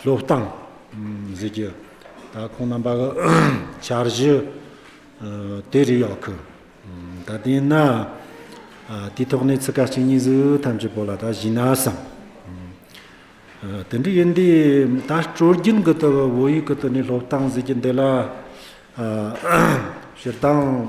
སློབ་སྟངས། གཟིགས་རྒྱུ། ད་ཁོང་རྣམ་པ་གི་བྱ་གཞི་དེ་རིགས་ཡག་གི། ད་དེས་ན། དེའི་ཐོག་ནས་ཚིག་ཀ་གཅིག་གཉིས་གཟུགས་ཐམས་ཅད་པོ་ལ་ད་གཞིགས་ན་བསམ། དེ་འདྲའི་ཡིན་དུས་ད་སྤྲོ་རྒྱུན་གི་ཏུ་བོད་ཡིག་གི་ཏུ་ནས་སློབ་སྟངས་གཟིགས་རྒྱུ་འདི་ལ། སྤྱིར་བཏང།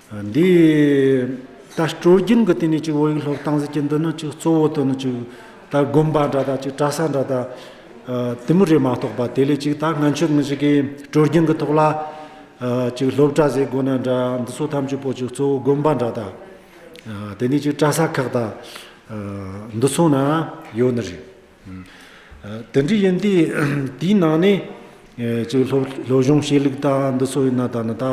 འདི་ལྟར་སྤྲོ་རྒྱུན་གྱི་སྟེང་ནས་ཅིག་འོ་ཡིག་ལྷོ་བཏང་ཟེར་གྱི་འདི་ནི་ཅིག་གཙོ་བོ་དོན་ནི་ཅིག་ད་དགོན་པ་འདྲ་དག་ཅིག་གྲྭ་ས་འདྲ་དག་དེ་མུར་རེ་མ་གཏོགས་པ་དེ་ལས་ཅིག་ད་སྔ་ཆོས་ངོས་ཀྱི་སྤྲོ་རྒྱུན་གྱི་ཐོག་ལ་ཅིག་སློབ་གྲྭ་ཟེར་དགོན་ན་འདྲ་འདི་ཚོ་ཐམས་ཅད་པོ་ཅིག་གཙོ་བོ་དགོན་པ་འདྲ་དག་དེ་ནས་ཅིག་གྲྭ་ས་ཁག་དག་འདི་ཚོ་ན་ཡོད་ནི་རེད། དེ་འདྲ་ཡིན་དུས་དེའི་ནང་ནས་ཅིག་སློབ་སྦྱོང་བྱེད་ལུགས་དང་འདི་སོ་ཡིན་ན་ད་ནི་ད་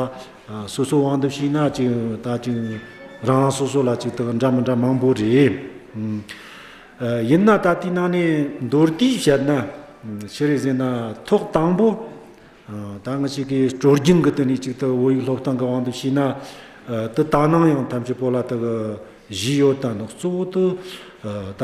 སོ་སོ་དབང་འདེམས་བྱས་ན་ཅིག་ད་ཅིག་རང་རང་སོ་སོ་ལ་ཅིག་དག་འདྲ་མི་འདྲ་མང་པོ་རེད། ཡིན་ན་ད་དེའི་ནང་ནས་མདོར་བསྡུས་བྱས་ན་ཅི་རེད་ཟེར་ན་ཐོག་དང་པོ་ད་ང་ཅིག་གིས་སྤྲོ་སྐྱིད་ཀྱི་སྟེང་ནས་ཅིག་ད་བོད་ཡིག་སློབ་སྟངས་ཀྱི་དབང་འདེམས་བྱས་ན་དེ་ད་ནངས་ཡང་ཐམས་ཅད་པོ་ལ་དག་གཞི་ཡོད་དང་གཙོ་བོ་དུ་ད།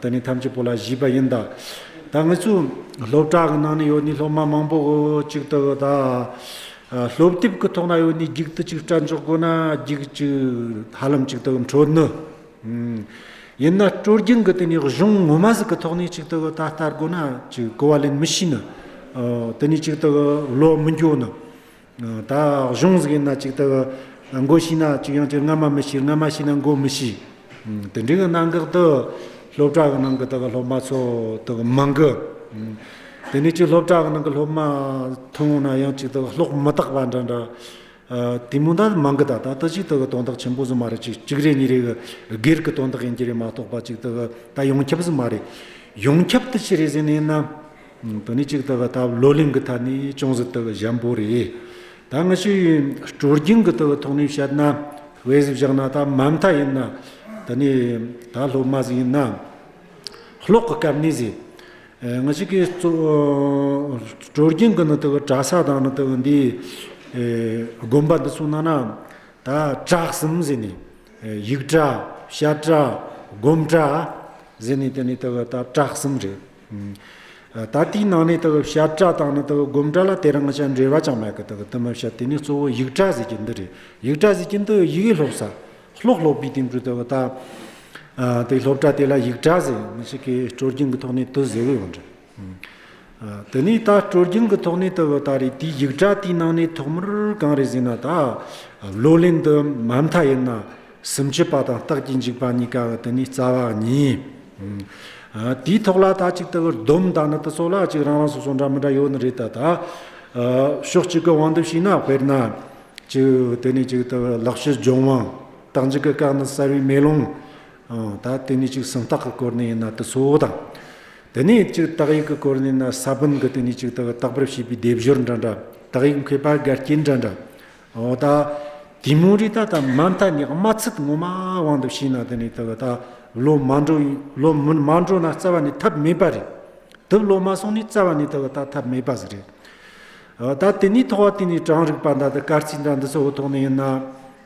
འདི་ནི་ཐམས་ཅད་པོ་ལ་བཞི་པ་ཡིན་ད། ད་ངེད་ཚོས་སློབ་གྲྭ་གི་ནང་ནས་ཡོད་ནི་སློབ་མ་མང་པོ་གཅིག་ལྟ་བུ་ད། སློབ་དེབ་ཀྱི་ཐོག་ན་ཡོད་ནི་བགྱིག་ཏུ་གཅིག་སྐྲ་འཇོག་དགོས་ན་བགྱིག་གཅིག་ཧ་ལམ་གཅིག་ལྟ་བུ་འཕྲོད་ནུས། ཡིན་ན་སྤྲོ་སྐྱིད་ཀྱི་དེ་ནི་གཞུང་ངོ་མ་ཟིག་གི་ཐོག་ནས་གཅིག་ལྟ་བུ་ད་ལྟར་དགོས་ན་གཅིག་གོ་བ་ལེན་མི་ཤེས་ནི། དེ་ནི་གཅིག་ལྟ་བུ་བློ་མི་འགྱོ་ནི། ད་གཞུང་ཟེར་གྱི་ན་ཅིག་ལྟ་གི། མགོ་ཤི་ན་ཅིག་ཡང་ཅིག་སྔ་མ་མི་ཤིར་སྔ་མ་ཤི་ན་མགོ་མི་ཤི། དེ་འདྲི་གི་གནང་གག་ཏུ། སློབ་གྲྭ་གི་ནང་གི་ད་གི་སློབ་མ་ཚོ་ད་གི་མང་གི། དེ་ནས་ཅིག་སློབ་གྲྭ་གི་ནང་གི་སློབ་མ་མཐོང་ན་ཡང་ཅིག་ད་གི་ལྷོག་མི་དག་པ་འདྲ་འདྲ། དེ་མུ་འདའ་མང་གི་ད་ད་ད་ཅིག་ད་གི་དོན་དག་ཆེན་པོ་ཟིག་མ་རེད་ཅིག་གཅིག་རེ་གཉིས་རེ་གི་སྒེར་གི་དོན་དག་ཡིན་གྱི་རེད་མ་གཏོགས་པ་ཅིག་ད་གི་ད་ཡོངས་ཁྱབ་ཟིག་མ་རེད། ཡོངས་ཁྱབ་ཏུ་ཅི་རེད་ཟེར་ནས་ན། དོན་ནི་གཅིག་དག་ད་བར་བློ་ལིང་གི་ཐ་ནི་ཅུང་ཟད་དག་གཞན་པོ་རེད། ད་ང་ཤི་ཡུལ་སྤྲོ་རྒྱིང་གི་དག་ཐོག་ནས་བཤད་ན་བས་བཞག་ན་ད་མ་མཐའ་ཡིན་ན་དེ་ནི་ད་སློབ་མ་ཟིག་ཡིན་ན་ཀློག་གི་སྐབས་ནས་ཟིག་ང་ཤི་གི་སྤྲོ་རྒྱིང་གི་ནི་དག་གྲ་ས་དང་ནི་དག་འདི་དགོན་པ་འདི་ཚོ་ན་ན་ད་གྲགས་གསུམ་ཟིག་ནས་ཡིག་གྲ་བཤད་གྲ་སྒོམ་གྲ་ཟིག་ནས་དེ་ནི་དག་ད་གྲགས་གསུམ་རེད། ད་ལྟའི་ནང་ནས་དག་གི་བྱབ་བྲ་དང་ནི་དག་གི་སྒོམ་བྲ་ལ་དེ་རང་ཅག་འབྲེལ་བ་ཅང་མེད་གི་དག་གི་གཏུམ་མོའི་བྱབ་དེ་ནི་གཙོ་བོ་ཡིག་བྲ་ཟེར་གྱི་འདི་རེད་ཡིག་བྲ་ཟེར་གྱི་འདི་ཡི་ཡིག་སློབ་ས་ཤློག་སློབ་པའི་སྟེང་དུ་དག་གི་ད་དེ་སློབ་བྲ་དེ་ལ་ཡིག་བྲ་ཟེར་མི་ཤིག་གི་སྤྲོ་སྐྱིང་གི་ཐོག་ནས་དུ་ཟེར་བས་འོན་འགྲིག་དེ་ནས་ད་སྤྲོ་སྐྱིང་གི་ཐོག་ནས་དག་གི་ད་རེ་དེའི་ཡིག་བྲ་དེའི་ནང་ནས་ཐོག་མར་གང་རེ་ཟེར་ན་ད་བློ་ལེན་དུ་མ་མཐའ་ཡིན་ན། སུམ་ཅུ་པ་དང་རྟགས་ཀྱི་འཇིག་པ་གཉིས་ཀ་འི་དེ་ནི་རྩ་བ་ཉིད། དེའི་ཐོག་ལ་ད་ཅིག་ལྟ་བུར་སྡོམ་བཏགས་ན་དེ་ཚོ་ལ་ཅིག་རང་རང་སོ་སོ་འདྲ་མི་འདྲ་ཡོད་ནི་རེད་ད་ལྟ། ཕྱོགས་གཅིག་གི་དབང་དུ་ཕྱིན་ན་དཔེར་ན། ཅིག་དེ་ནི་ཅིག་ལྟ་བུ་ལག་ཤེས་སྦྱོང་དབང། རྟགས་འཇིག་གི་སྐབས་ནི་གསལ་བའི་མེ་ལོང། ད་དེ་ནི་ཅིག་སུམ་རྟགས་ཀྱི་སྐོར་ནས་ཡིན་ན་དེ་ཚོ་དང། དེ་ནས་ཅིག་རྟགས་ཡིག་གི་སྐོར་ནས་ཡིན་ན་ས་བོན་གྱི་དེ་ནི་ཅིག་ལྟ་བུ་རྟག་པར་བྱས་པའི་སྡེབ་སྦྱོར་འདྲ་འདྲ། རྟགས་ཡིག་མཁས་པ་འགལ་རྐྱེན་འདྲ་འདྲ། འོ་ད། དེ་མུར་རི་ད་ད་མ་མཐའ་ནི་དམའ་ཚིག་ངོ་མ་དབང་དུ་ཕྱིན་ན་དེ་ནི་ད་ད་ལོ་མ་འགྲོ་ལོ་མ་འགྲོ་ན་རྩ་བ་ནས་ཐབས་མེད་པ་རེད། དུབ་ལོ་མ་སོང་ནས་རྩ་བ་ནས་ད་ད་ཐབས་མེད་པ་ཟེར་རེད། འོ་ད་དེ་ནས་ཐོག་དེ་ནས་གྲངས་རིག་པ་འདྲ་ད་སྐར་རྩིས་འདྲ་འདི་ཚོ་འོ་ཐོག་ནས་ཡིན་ན།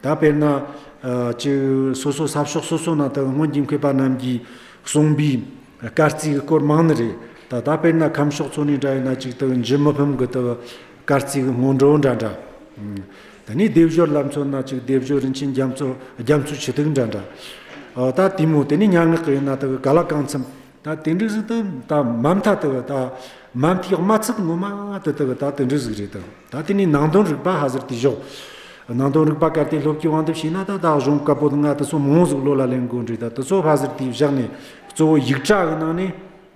ད་དཔེར་ན། ཅི། སོ་སོ་ས་ཕྱོགས་སོ་སོ་ན་ད་སྔོན་གྱི་མཁས་པ་རྣམས་ཀྱིས་གསུངས་པའི་སྐར་རྩིས་ཀྱི་སྐོར་མང་ནི་རེད། ད་དཔེར་ན་ཁམས་ཕྱོགས་ཚོ་ནས་འདྲ་ཡིན་ན་ཅིག་ད་འཇིགས་མི་ཕམ་གྱི་ད། སྐར་རྩིས་སྔོན་འགྲོ་འདྲ་འདྲ། དེ་ནས་སྡེབ་སྦྱོར་བསླབ་མཚོ་སྣ་གཅིག་སྡེབ་སྦྱོར་རིན་ཆེན་རྒྱ་མཚོ་རྒྱ་མཚོའི་ཆུ་ཐིགས་འདྲ་འདྲ། ད་དེ་མོ་དེ་ནས་སྙན་ངག་གི་ཡོད་ན་དག་ག་ལ་གང་འཚམ། ད་དེ་འདྲ་ཟིག་དང་ད་མ་མཐའ་དག་ད་མ་མཐའི་དམའ་ཚིག་ངོ་མ་དེ་དག་ད་དེ་འདྲ་ཟིག་རེད་དང་ད་དེ་ནས་ནང་དོན་རིག་པ་ཧ་ཟེར་དེ་བཞོག། ནང་དོན་རིག་པ་གལ་ཏེ་སློབ་ཀྱི་དབང་དུ་བྱས་ན་ད་བདག་གཞུང་བཀའ་པོད་ལྔ་དེ་ཚོ་མང་ཟིག་བློ་ལ་ལེན་དགོས་འདྲི་ད་དེ་ཚོ་ཧ་ཟེར་དེ་བཞག་ནས་གཙོ་བོ་ཡིག་གྲགས་ཀྱི་ནང་ནས།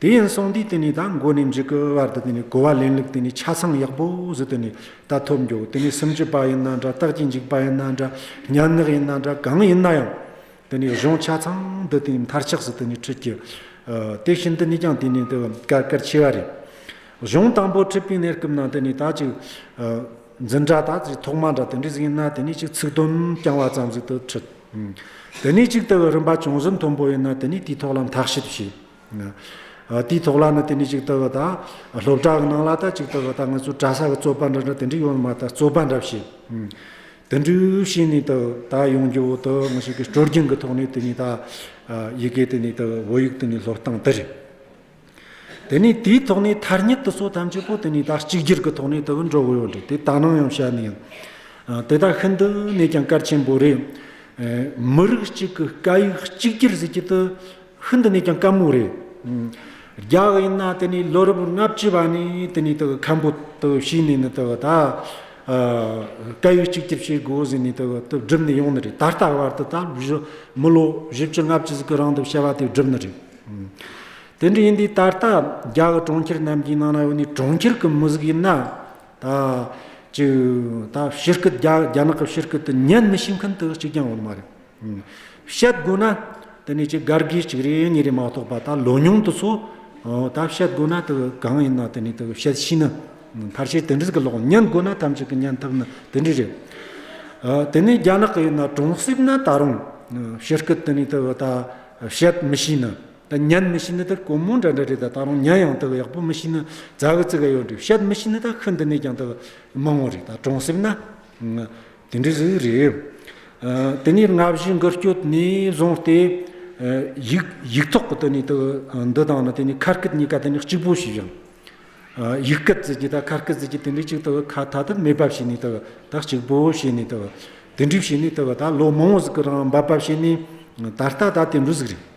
དེ་ཡིན་སོང་དུས་དེ་ནས་ད་འགོ་ནས་འཇིག་གི་བར་དུ་དེ་ནས་གོ་བ་ལེན་ལུགས་དེ་ནས་ཆ་ཚང་ཡག་པོ་ཟིག་དེ་ནས་ད་ཐོབ་འགྱོ་དེ་ནས་སུམ་ཅུ་པ་ཡིན་ན་འདྲ་རྟགས་ཀྱི་འཇིག་པ་ཡིན་ན་འདྲ་ཉར་ནག་ཡིན་ན་འདྲ་གང་ཡིན་ན་ཡང་དེ་ནས་གཞུང་ཆ་ཚང་དུ་དེ་ནས་མཐར་ཆགས་སུ་དེ་ནས་ཁྲིད་ཀྱི། དེ་བཞིན་དུ་ནས་ཀྱང་དེ་ནས་དུ་གར་གར་ཆེ་བ་རེད། གཞུང་དང་པོ་ཁྲིད་པའི་གནས་སྐབས་ན་དེ་ནས་ད་ཅིག་འཛིན་གྲྭ་དང་ཅིག་ཐོག་མ་འདྲ་དེ་འདྲ་ཟིག་ཡིན་ན་དེ་ནས་ཅིག་ཚིག་དོན་རྐྱང་བ་ཙམ་ཟིག་ཏུ་ཁྲིད། དེ་ནས་ཅིག་དུ་རིམ་པ་ཅུང་ཟད་མཐོན་པོ་ཡིན་ན་དེ་ནས་དེའི་ཐོག་ལ་འཐག་ཞིབ་བྱེད། དེའི་ཐོག་ལ་ནི་དེ་ནས་ཅིག་ལྟོས་པ་དང། སློབ་གྲྭ་གི་ནང་ལ་དང་ཅིག་ལྟོས་པ་དང་ང་ཚོའི་གྲྭ་ས་གི་རྩོད་པ་འདྲ་འདྲ་དེ་འདྲའི་ཡོད་ནི་མ་ད་རྩོད་པ་འདྲ་བྱེད། དེ་འདྲའི་བྱས་ནས་ད་ད་ཡོང་རྒྱུ་འོག་ཏུ་ང་ཞིག་གིས་སྤྲོ་སྐྱིད་ཀྱི་ཐོག་ནས་དེ་ནས་ད་ཡི་གེ་དེ་ནས་ད་བོད་ཡིག་དེ་ནས་སློབ་སྟངས་དེ་རེད། དེ་ནས་དེའི་ཐོག་ནས་མཐར་ཉིད་དུ་སོ་ཐམས་ཅད་པོ་དེ་ནས་ད་གཅིག་གྱུར་གྱི་ཐོག་ནས་ད་འགྲོ་གི་ཡོད་རེད་དེ་ད་ནང་ཡང་བཤད་ནི་ཡོད། དེ་དག་ཤིན་ཏུ་ནས་ཀྱང་གལ་ཆེན་པོ་རེད། མི་རིགས་གཅིག་གི་སྐད་ཡིག་གཅིག་གྱུར་ཟེར་གྱི་དེ། ཤིན་ཏུ་ནས་ཀྱང་དཀའ་མོ་རེད། རྒྱག་ཡིན་ན་དེ་ནི་ལོ་རབས་ལྔ་བཅུ་བ་ནས་དེ་ནི་ཁམ་བུ་བྱིས་ནས་ནི་ད་སྐད་ཡིག་གཅིག་གྱུར་བྱེད་དགོས་ཟེར་ནས་བསྒྲུབས་ནས་ཡོང་ནི་རེད་ད་ལྟ་བར་དུ་མི་ལོ་བཞི་བཅུ་ལྔ་བཅུ་ཟིག་གི་རིང་དུ་བྱ་བ་དེ་བསྒྲུབས་ནི་རེད། དེ་འདྲ་ཡིན་དུས་ད་ལྟ་རྒྱ་གི་གྲོང་ཁྱེར་རྣམས་ཀྱི་ནང་ན་ཡོད་ནི་གྲོང་ཁྱེར་གི་མི་ཟིག་ཡིན་ན་ད་ཅིག་ཕྱི་སྐད་རྒྱ་ནག་གི་ཕྱི་སྐད་དུ་ཉན་མི་ཤེས་མཁན་དུ་གཅིག་ཀྱང་ཡོད་མ་རེད། བཤད་དགོས་ན་དེ་ནས་ཀྱི་གར་དགོས་གཅིག་རེ་གཉིས་རེ་མ་གཏོགས་པ་ད་ལོ་ཉུང་དུ་ཚོ་ད་བཤད་དགོས་ན་དེ་གང་ཡིན་ན་དེ་ནས་དེ་བཤད་ཤེས་ན་ཕར་ཆེར་དེ་འདྲི་གི་ལོག་ཉན་དགོས་ན་ཐམས་ཅད་ཀྱི་ཉན་ཐབས་ནི་དེ་འདྲི་རེད། དེ་ནས་རྒྱ་ནག་གི་ཡིན་ན་གྲོང་གསེབ་ན་ད་རུང་ཕྱི་སྐད་དེ་ནས་དེ་ད་བཤད་མི་ཤེས་ན་ད་ཉན་མི་ཤེས་ན་དེ་ཀོ་མོ་འདྲ་འདྲ་རེད་ད་ད་རུང་ཉན་ཡང་དེ་ཡག་པོ་མི་ཤེས་ན་རྫ་གི་རྩི་ག་ཡོད་འདྲི་བཤད་མི་ཤེས་ན་ད་ཤི་འདི་ནས་ཀྱང་དེ་མང་བོ་རེད་ད་གྲོང་གསེབ་ན། དེ་འདྲའི་གཟུགས་རེད། དེ་ནས་ལྔ་བཞི་འགུལ་སྐྱོད་ནས་བཟུང་སྟེ། ཡིག་ཐོག་གི་དེ་ནས་དུ་འདི་དང་ནི་དེ་ནས་ཁ་སྐད་གཉིས་ཀ་དེ་ནས་གཅིག་པོ་ཞིག་ཡིན། ཡིག་སྐད་ཟེར་གྱི་དང་ཁ་སྐད་ཟེར་གྱི་དེ་འདྲའི་གཅིག་དུ་ཁ་ཐག་ཐག་མེད་པ་བྱས་ནས་དུ་ད་གཅིག་པོ་བྱས་ནས་དུ། དེ་འདྲའི་བྱས་ནས་དུ་ད་ལོ་མང་བོ་ཟིག་གི་རང་འབབ་པ་བྱས་ནས་ད་ལྟ་ད་དེ་འདྲའི་ཟིག་རེད།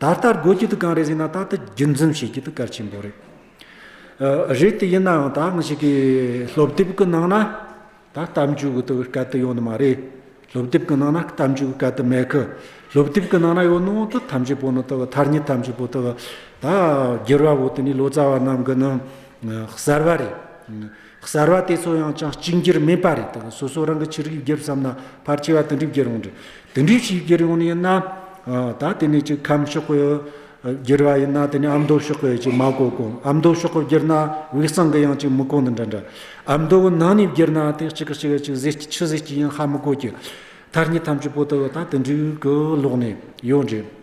ད་ལྟ་དགོས་ཀྱི་འདུག་གང་རེད་ཟེར་ན་ད་ལྟ་རྒྱུན་འཛིན་བྱེད་ཀྱི་འདུག་གལ་ཆེན་པོ་རེད། རེད་དེ་ཡིན་ནའང་ད་ང་ཞིག་གིས་སློབ་དེབ་ཀྱི་ནང་ན་ད་གཏམ་རྒྱུད་གི་དུ་སྐད་དུ་ཡོད་ནི་མ་རེད། སློབ་དེབ་ཀྱི་ནང་ན་གཏམ་རྒྱུད་གི་སྐད་དུ་མེད་གི། སློབ་དེབ་ཀྱི་ནང་ན་ཡོད་ནའང་དུ་ཐམས་ཅད་པོ་ནི་དུ་ཐར་ཉེས་ཐམས་ཅད་པོ་དུ་ད་སྒེར་བ་བོ་དེ་ནི་ལོ་ཙཱ་བ་རྣམས་ཀྱི་ནི་གསར་བ་རེད། གསར་བ་དེ་ཚོ་ཡང་ཅང་གཅིག་འགྱུར་མེད་པ་རེད་དེ་ལ་སོ་སོ་རང་གི་ཕྱིར་ཡིག་བརྒྱབ་བསམ་ན་ཕར་སྐྱེལ་བ་དེ་འགྲིག་བརྒྱུད་རུང་འགྲིག་དེ་འགྲིག་ཞིག་བརྒྱུད་རུང་ཡིན་ན་ད་དེ་ནས་ཅིག་ཁམས་ཤོག་གོ་བརྒྱུད་བ་ཡིན་ན་དེ་ནས་ཨ་མདོ་ཤོག་གོ་ཅིག་མ་གོ་གོ་ཨ་མདོ་ཤོག་གོ་བརྒྱུད་ན་དབུས་གཙང་གི་ཡང་ཅིག་མི་གོ་འདི་འདྲ་འདྲ་ཨ་མདོ་བོ་ནང་ནས་བརྒྱུད་ན་དེ་གཅིག་གི་ཕྱི་གཅིག་གཟི་བརྗིད་ཕྱི་གཟི་བརྗིད་ཡང་ཧ་མི་གོ་བརྒྱུད་མཐར་གཉིས་ཐམས་ཅད་པོ་ཏོ་ད་དེ་འགྲིག་གི་ལོག་ནས་ཡོད་འགྲིག།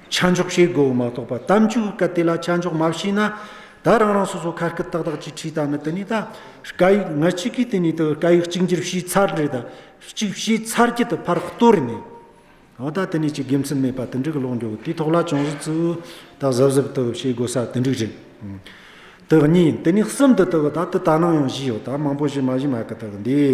ཆ་འཇོག་བྱེད་དགོས་པ་མ་གཏོགས་པ་གཏམ་རྒྱུད་ཀྱི་སྐད་དེ་ལ་ཆ་འཇོག་མ་བྱས་ན། ད་རང་རང་སོ་སོ་ཁ་སྐད་ཏག་ཏག་ཅིག་ཁྲིད་ད་ནི་དེ་ནི་ད་སྐད་ཡིག་ང་གཅིག་གིས་དེ་ནི་ད་སྐད་ཡིག་གཅིག་འགྱུར་བྱས་ཚར་རེད་ད་གཅིག་བྱས་ཚར་གྱི་ད་ཕར་གཏོར་ནས། ཨོ་ད་དེ་ནི་ཅིག་དགེ་མཚན་མེད་པ་དེ་འདྲའི་ཀློག་འགྲོ་དེའི་ཐོག་ལ་ཅུང་ཟད་ཙིཏྟ་གཟབ་གཟབ་ཏུ་བྱེད་དགོས་ས་དེ་འདྲས་རེད། དེ་གཉིས་དེ་ནི་གསུམ་དུ་ཏུ་ད་དུ་ད་ནང་ཡང་བཞི་ཡོད་ད་མང་པོ་བཞི་མ་བཞི་མ་གི་ད་གི་འདི།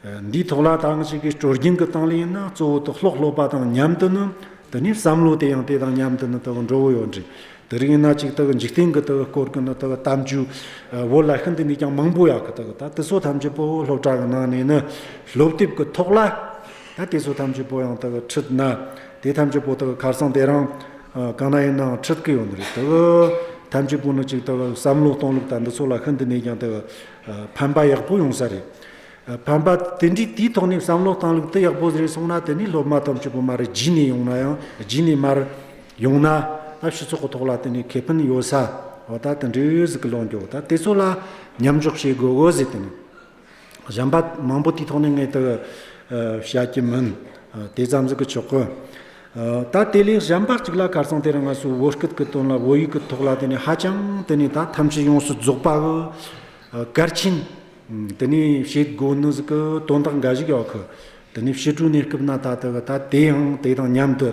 འདིའི་ཐོག་ལ་ཐང་ཞིག་གིས་དྲོ་རྒྱུན་གྱི་སྟངས་ལེན་ཡིན་ན་གཙོ་བོ་དུག་སློག་སློག་པ་དང་མཉམ་དུ་ནི། དེ་ནས་བསམ་བློ་དེ་ཡང་དེ་དང་མཉམ་དུ་ནི་དེ་དག་འགྲོ་བོ་ཡོད་འདྲི། དེ་རིང་ཡིན་ན་ཅིག་དེ་གི་འཇིག་རྟེན་གྱི་དེ་གི་སྐོར་གྱི་ནི་དེ་གི་གཏམ་རྒྱུད། བོད་ལ་ཤིན་ཏུ་ནས་ཀྱང་མང་པོ་ཡག་གི་དེ་གི་ད་དེ་ཚོ་ཐམས་ཅད་པོ་སློབ་གྲྭ་གི་ནང་ནས་ནི་སློབ་དེབ་གི་ཐོག་ལ། ད་དེ་ཚོ་ཐམས་ཅད་པོ་ཡང་དེ་གི་ཁྲིད་ན། དེ་ཐམས་ཅད་པོ་དེ་གི་ཁར་སང་དེ་རང། གང་ན་ཡིན་ནའང་ཁྲིད་གི་ཡོད་འདྲི་དེ་གི། ཐམས་ཅད་པོ་ནི་ཅིག་དེ་གི་བསམ་བློ་གཏོང་ལུགས་ད་འདི་ཚོ་ལ་ཤིན་ཏུ་ནས་ཀྱང་དེ་གི། ཕན་པ་ཡག་པོ་ཡོང་ས་རེད། བམ་པ། དེ་འདྲའི་དུས་ཐོག་ནས་བསམ་བློ་བཏང་ལུགས་དེ་ཡག་པོ་རེད་སོང་ན་དེ་ནས་སློབ་མ་དང་བཅུ་པོ་མ་རེད་བརྒྱུད་ནས་ཡོང་ན་ཡང་བརྒྱུད་ནས་མར། ཡོང་ན། སྐབས་ཞིག་ཚོགས་གོ་ཐོག་ལ་དེ་ནས་ཁེ་ཕན་ཡོད་ས། འོ་ད་དེ་འདྲའི་འོས་གཟིགས་ཀྱི་ལོ་མཇུག་ད་དེ་ཚོ་ལ་མཉམ་འཇོག་བྱེད་དགོས་འོས་གཟིགས་དེ་ནས། གཞན་པ་མང་པོ་དུས་ཐོག་ནས་ངེད་དུ་བྱ་གྱི་མིན། དེ་ཙམ་གཟིགས་ཀྱི་ཆོག་གི། ད་དེ་ལས་གཞན་པ་གཅིག་ལ་གར་སོང་དེ་རིང་ང་ཚོའི་འོས་སྐུལ་གྱི་དོན་ལ་འོས་ཡུག་གི་ཐོག་ལ་དེ་ནས་ཧ་ཅང་དེ་ནས་ད་ཐམས་ཅད་ཡོངས་སུ་རྫོགས་པའོ། གར་ཕྱིན། དེ་ནས་བྱེད་སྒོ་ནི་གཟུགས་ཀྱི་དོན་དག་འགའ་ཞིག་གི་འོག་གི་དེ་ནས་ཕྱི་དྲོའི་གནས་སྐབས་ན་ད་ལྟ་གི་ད་དེའང་དེ་དང་མཉམ་དུ་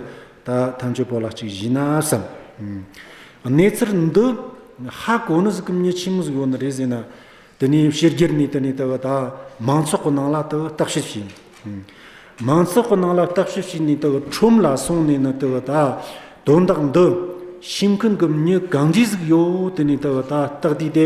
ད་ཐམས་ཅད་པོ་ལ་གཅིག་བཞི་ན་བསམ། གནས་ཚུལ་འདི་ཧ་གོ་ནི་གཟུགས་ཀྱི་མཉེས་ཕྱིན་མི་གཟུགས་ཡོད་ནི་རེད་ཟེར་ན་དེ་ནས་ཕྱི་རྒྱལ་ནས་དེ་ནས་ད་གི་ད་མང་ཚོགས་ཀྱི་ནང་ལ་ད་གི་བརྟག་ཞིབ་བྱས། མང་ཚོགས་ཀྱི་ནང་ལ་བརྟག་ཞིབ་བྱས་ནས་ད་གི་ཁྲོམ་ལ་སོང་ནས་ནི་ད་གི་ད་དོན་དག་འདི་ཕྱི་མཁན་གྱི་མཉེས་གང་ཇི་གཟུགས་ཡོད་དེ་ནས་ད་གི་ད་བརྟག་དུས་དེ།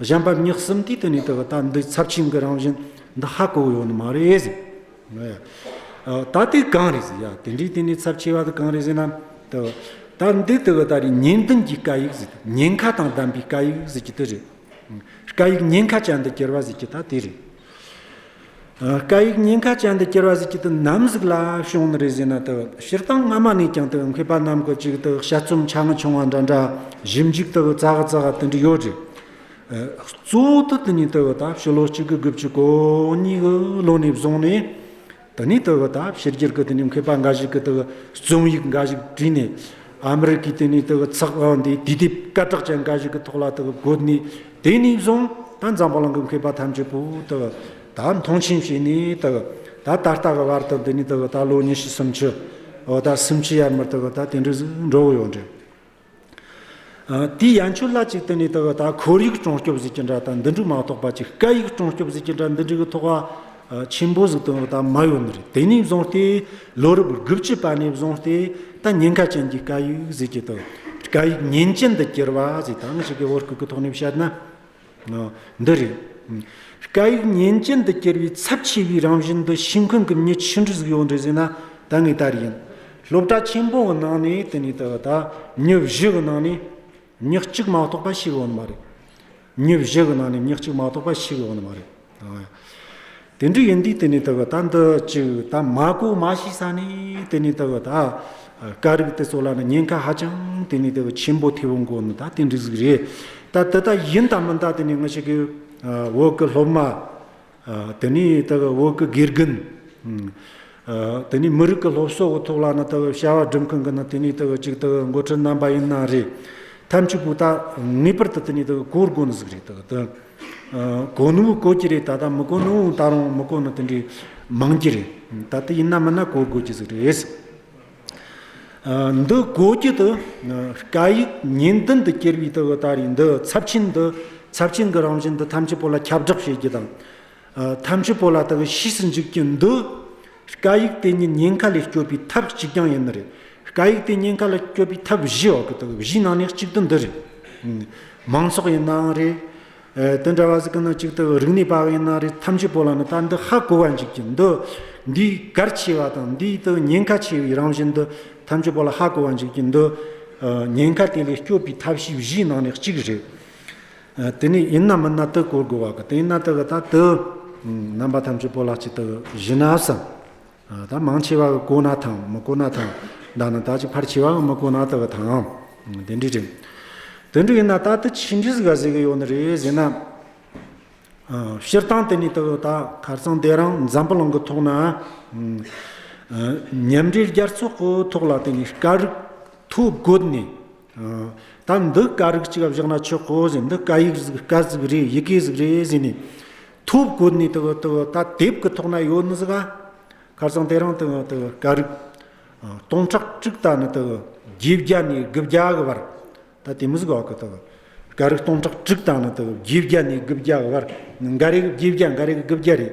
གཞན་པ་མྱི་གསུམ་དུས་དེ་ནས་དེ་བ་ད་འདི་ཚབས་ཆེན་གི་རང་བཞིན་འདི་ཧ་གོ་ཡོད་ནི་མ་རེད་ཟེར། ད་དུས་གང་རེད་ཟེར་ཡ་དེ་འདྲའི་དེ་ནས་ཚབས་ཆེ་བ་དེ་གང་རེད་ཟེར་ན། དེ་བ་ད་འདི་དེ་བ་ད་རེ་ཉིན་བདུན་གྱི་བཀའ་ཡིག་ཟེར་ཉེན་ཁ་དང་ལྡན་པའི་བཀའ་ཡིག་ཟེར་གྱི་དེ་རེད། བཀའ་ཡིག་ཉེན་ཁ་ཅན་འདི་གྱེར་བ་ཟེར་གྱི་ད་དེ་རེད། བཀའ་ཡིག་སྙིང་ཁ་ཅན་འདི་སྐྱེར་བ་ཟིག་གཅིག་ཏུ་ནམ་ཟིག་ལ་བྱུང་ནི་རེ་བཟི་ན་དག་སྤྱིར་བཏང་སྔ་མ་ནས་ཀྱང་དག་མཁས་པ་རྣམས་ཀྱི་ཅིག་དག་དཔྱད་རྩོམ་ཆ་ང་ཆུང་བ་འདྲ་འདྲ་བཞིན་འཇིག་དག་རྩ་ག་རྩ་ག་དེ་འདྲ་ཡོད་རེད། གཙོ་བོ་དུ་དེ་ཉིད་དག་ད་ཕྱི་ལོ་གཅིག་གི་དགུ་བཅུ་གོ་གཉིས་གི་ལོ་ནས་བཟུང་ནས། དང་ནི་དེ་བས་ད་ཕྱི་རྒྱལ་གྱི་དེ་ནི་མཁས་པ་འགའ་ཞིག་གིས་དེ་བས་རྩོམ་ཡིག་འགའ་ཞིག་བྲིས་ནས། ཨ་མེ་རི་ཀའི་དེ་ནི་དེ་བས་ཚགས་དབང་འདིའི་དུས་དེབ་སྐད་གྲགས་ཅན་འགའ་ཞིག་གི་ཐོག་ལ་དེ་བས་བཀོད་ནས་དེ་ནས་བཟུང་ད་འཛམ་བུ་གླིང་གི་མཁས་པ་ཐམས་ཅད་པོ་དེ་བས་ད་མཐོང་ཆེན་བྱས་ནས་དེ་བས་ད་ད་ལྟ་གི་བར་དུ་འདི་ནི་དེ་བས་ད་ལོ་ཉི་ཤུ་སུམ་ཅུ། ད་སུམ་ཅུ་ཡར་མར་དེ་བས་ད་དེ་འདྲའི་འགྲོ་འོང་ཡོད་འདྲ། དེའི་ཡན་ཆོད་ལ་ཅིག་དེ་ནས་དག་དག་ཁོར་ཡུག་ཀྲོང་སྐྱོབ་གཟིགས་ཀྱི་འདྲ་དང་འདི་འབྲུ་མ་གཏོགས་པ་ཅིག་སྐད་ཡིག་ཀྲོང་སྐྱོབ་གཟིགས་ཀྱི་འདྲ་འདི་འབྲི་གི་ཐོག་བ་ཆེན་པོ་ཟིག་དོན་དང་མ་ཡོད་ནི་རེད་དེ་ནས་བཟུང་སྟེ་ལོ་རབས་དགུ་བཅུ་པ་ནས་བཟུང་སྟེ་ད་ཉེན་ཁ་ཅན་གྱི་སྐད་ཡིག་ཟིག་གི་དོན་སྐད་ཡིག་ཉེན་ཅན་དུ་གྱུར་བ་ཟིག་དང་ཞིག་གི་བོར་སྐུག་གི་ཐོག་ནས་བཤད་ན། འདི་རེད། སྐད་ཡིག་ཉིན་རྐྱེན་དུ་གྱུར་པའི་ཚབས་ཆེ་བའི་རང་བཞིན་འདི་ཤིང་ཁུངས་ཀྱི་མྱི་ཆུང་འབྲུ་གཟུགས་ཡོངས་འབྲི་ཟིན་ན་ད་ངའི་ལྟར་ཡིན། སློབ་གྲྭ་ཆེན་པོ་འི་ནང་ནས་དེ་ནས་ད་མྱི་བཞི་འི་ནང་ནས་མྱི་གཅིག་མ་གཏོགས་པ་ཞིག་ཡོད་ནི་མ་རེད། མྱི་བཞི་འི་ནང་ནས་མྱི་གཅིག་མ་གཏོགས་པ་ཞིག་ཡོད་ནི་མ་རེད། དེ་འདྲ་ཡིན་དུས་དེ་ནས་དེ་བས་ད་འདི་གཅིག་ད་མ་གོ་མ་ཤི་ས་ནས་དེ་ནས་དེ་བས་ད་ཀ་རིགས་དེ་ཚོ་ལ་ནི་ཉེན་ཁ་ཧ་ཅང་དེ་ནས་དེ་བས་ཆེན་པོ་ཐེབས་འགོ་ནི་ད་དེ་འདྲ་ཟིག་རེད་ད་དེ་ད་ཡིན་ད་མིན་ད་དེ་ནས་ང་ཤི་གི་འོག་གི་སློབ་མ་དེ་ནས་དེ་བས་འོག་གི་དགེ་རྒན། དེ་ནི་མི་རིགས་ཀྱི་སློབ་གསོ་འོག་ཐོག་ལ་ནི་ལྟ་བའི་བྱ་བ་སྒྲུབ་མཁན་གྱི་ནི་དེ་ནི་ལྟ་བའི་གཅིག་ལྟ་བའི་མགོ་ཁྲིད་རྣམ་པ་ཡིན་ན་རེད། ཐབས་ཇུས་པུས་ད་ངེས་པར་དུ་དེ་ནི་ལྟ་བའི་གོ་དགོས་ནི་ཟིག་རེད་ད་དུང། གོ་ནི་བོ་གོ་གྱི་རེད་ད་ལྟ་མི་གོ་ནི་བོ་ད་རུང་མི་གོ་ནི་དེ་འདྲའི་མང་གྱི་རེད། ད་དེ་ཡིན་ན་མིན་ན་གོ་དགོས་ཀྱི་ཟིག་རེད། འདི་གོ་གྱི་དུ་སྐད་ཡིག་ཉིན་བདུན་དུ་སྐྱེལ་བའི་ལྟ་བའི་ལྟ་རེས་འདི་ཚབས་ཆེན་འདི་ཚབས་ཆེན་གྱི་རང་བཞིན་འདི་ཐམས་ཅད་པོ་ལ་ཁྱབ་བསྒྲགས་བྱེད་རྒྱུ་དང། ཐམས་ཅད་པོ་ལ་དག་གིས་ཤིས་སུ་འཇུག་གིན་འདུག་བཀའ་ཡིག་དེ་ཉིད་ཉེན་ཁ་ལས་སྐྱོབ་པའི་ཐབས་གཅིག་ཀྱང་ཡིན་ནི་རེད། བཀའ་ཡིག་དེ་ཉེན་ཁ་ལས་སྐྱོབ་པའི་ཐབས་བཞིའི་འོག་གི་ཐབས་བཞིའི་ནང་ནས་གཅིག་ཏུ་འདི་རེད། མང་ཚོགས་ཡིན་ནའང་རེད། དེ་འདྲ་བ་ཟིག་གི་ནང་གཅིག་ཏུ་རིག་གནས་པ་ཡིན་ནའང་རེད་ཐམས་ཅད་པོ་ལ་ནི་ད་འདི་ཧ་གོ་བ་འཇུག་གིན་འདུག་འདིའི་གལ་ཆེ་བ་དང་འདིའི་དུ་ཉེན་ཁ་ཆེ་བའི་རང་བཞིན་འདི་ཐམས་ཅད་པོ་ལ་ཧ་གོ་བ་འཇུག་གིན་འདུག་ཉེན་ཁ་དེ་ལས་སྐྱོབ་པའི་ཐབས་ཤེས་བཞིའི་ནང་ནས་གཅིག་རེད། དེ་ནས་ཡིན་ནམ་མིན་ན་དུ་བསྐོར་དགོས་བ་གི་དེ་ཡིན་ན་དུ་གི་ད་དུ། རྣམ་པ་ཐམས་ཅད་པོ་ལགས་ཀྱི་དུ་བཞི་ན་བསམ། ད་མང་ཆེ་བ་གི་བསྐོར་ན་དང་མི་བསྐོར་ན་དང། བདག་ནི་ད་ཅིག་ཕར་ཆེ་བ་གི་མི་བསྐོར་ན་དུ་གི་དང། དེ་འདྲའི་དྲིང། དེ་འདྲ་ཡིན་ན་ད་དུ་ཕྱིས་འདྲིས་ག་ཟེ་གི་ཡོད་ནི་རེད་ཟེར་ན། སྤྱིར་བཏང་དེ་ནི་དུ་གི་ད་གར་ཚང་དེ་རང་འཛམ་བུ་གླིང་གི་ཐོག་ན། ཉམས་འགྲེལ་རྒྱ་མཚོ་ཀུའི་ཐོག་ལ་དེ་ནི་དཀའ་རིགས་ཐུགས་བཀོད་ནས་ད་འདི་དཀའ་རིགས་གཅིག་བཞག་ན་ཆོག་གོ་ཟེར་འདི་དཀའ་ཡིག་ཟིག་དཀའ་ཟིག་རེད་ཡི་གེ་ཟིག་རེད་ཟེར་ནས་ཐུགས་བཀོད་ནས་དེ་ད་དེབ་ཀྱི་ཐོག་ན་ཡོད་ནི་ཟིག་ཨ། ཁར་སང་དེ་རིང་དཀའ་རིགས་སྟོང་ཕྲག་གཅིག་ད་ནི་བརྒྱད་བརྒྱ་ནས་དགུ་བརྒྱ་གི་བར་ད་དེ་མི་ཟིག་ཨོ་ཀི་དཀའ་རིགས་སྟོང་ཕྲག་གཅིག་ད་ནི་བརྒྱད་བརྒྱ་ནས་དགུ་བརྒྱ་གི་བར་འགའ་རེ་གི་བརྒྱད་བརྒྱ་འགའ་རེ་གི་དགུ་བརྒྱ་རེད།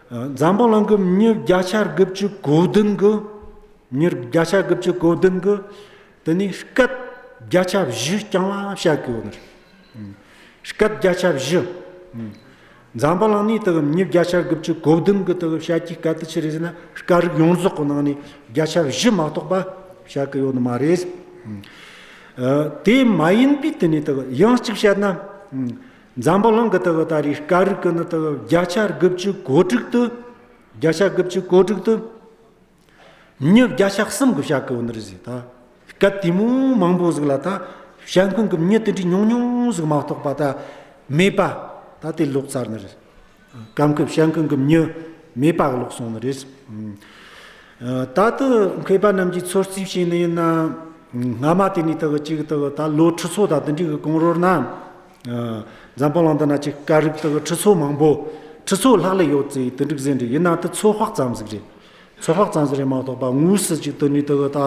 ཛམ་བྷ་ལང་གི་མྱུར་བརྒྱ་ཆ་དགུ་བཅུ་གོ་བདུན་གོ། མྱུར་བརྒྱ་ཆ་དགུ་བཅུ་གོ་བདུན་གོ། དེ་ནས་སྐད་བརྒྱ་ཆ་བཞི་རྐྱང་བ་བྱ་དགོས་ནི། སྐད་བརྒྱ་ཆ་བཞི། ཛམ་བྷ་ལང་ནི་དེ་མྱུར་བརྒྱ་ཆ་དགུ་བཅུ་གོ་བདུན་གི་དེ་བྱ་རྒྱུའི་སྐད་དེ་ཅི་རེད་ཟེར་ན་སྐད་རིགས་ཡོངས་རྫོགས་གི་ནང་ནས་བརྒྱ་ཆ་བཞི་མ་གཏོགས་པ་བྱ་དགོས་ཡོད་ནི་མ་རེད། དེ་མ་ཡིན་པའི་དེ་ནས་དེ་ཡང་གཅིག་བྱས་ན། འཛམ་བུ་གླིང་གི་ལྟེ་བ་ཨ་རིའི་སྐད་རིགས་ཀྱི་ནི་ལྟེ་བ་བརྒྱ་ཆ་དགུ་བཅུ་གོ་དྲུག་ཏུ། བརྒྱ་ཆ་དགུ་བཅུ་གོ་དྲུག་ཏུ། མྱི་བརྒྱ་ཆ་གསུམ་གྱི་བྱ་གུ་འོ་ནི་རི་ཟིག་ད། སྐད་དེ་མོ་མང་པོ་ཟིག་ལ་ད། བྱ་ཁུང་གི་མྱི་དེ་འདྲའི་ཉུང་ཉུང་ཟིག་མ་གཏོགས་པ་ད་མེད་པ། ད་དེ་ལོག་ཚར་ནི་རེད། གམ་གི་བྱ་ཁུང་གི་མྱི་མེད་པ་ལོག་སོང་ནི་རེད། ད་དུ་མཁས་པ་རྣམས་ཀྱིས་ཚོད་རྩིས་བྱས་ནི་ཡིན་ན། སྔ་མ་དེ་ནི་ལྟེ་བ་གཅིག་ལྟེ་བ་ད་ལོ་ཁྲི་ཚོ་ད་དེ་འདྲའི་གི་གང་རོལ་ན། འཛམ་བུ་གླང་དུ་ན་ཅི་ཀ་རིགས་དག་ཁྲི་ཚོ་མང་པོ། ཁྲི་ཚོ་ལྷག་ལས་ཡོད་ཚེ་དེ་འགྲིག་ཟེར་འདྲི་ཡི་ན་དེ་ཚོད་དཔག་ཙམ་ཟིག་རེད། ཚོད་དཔག་ཙམ་ཟིག་རེད་མ་གཏོགས་པ་དངོས་སུ་ཅིག་ཏུ་ནི་དག་ཏུ།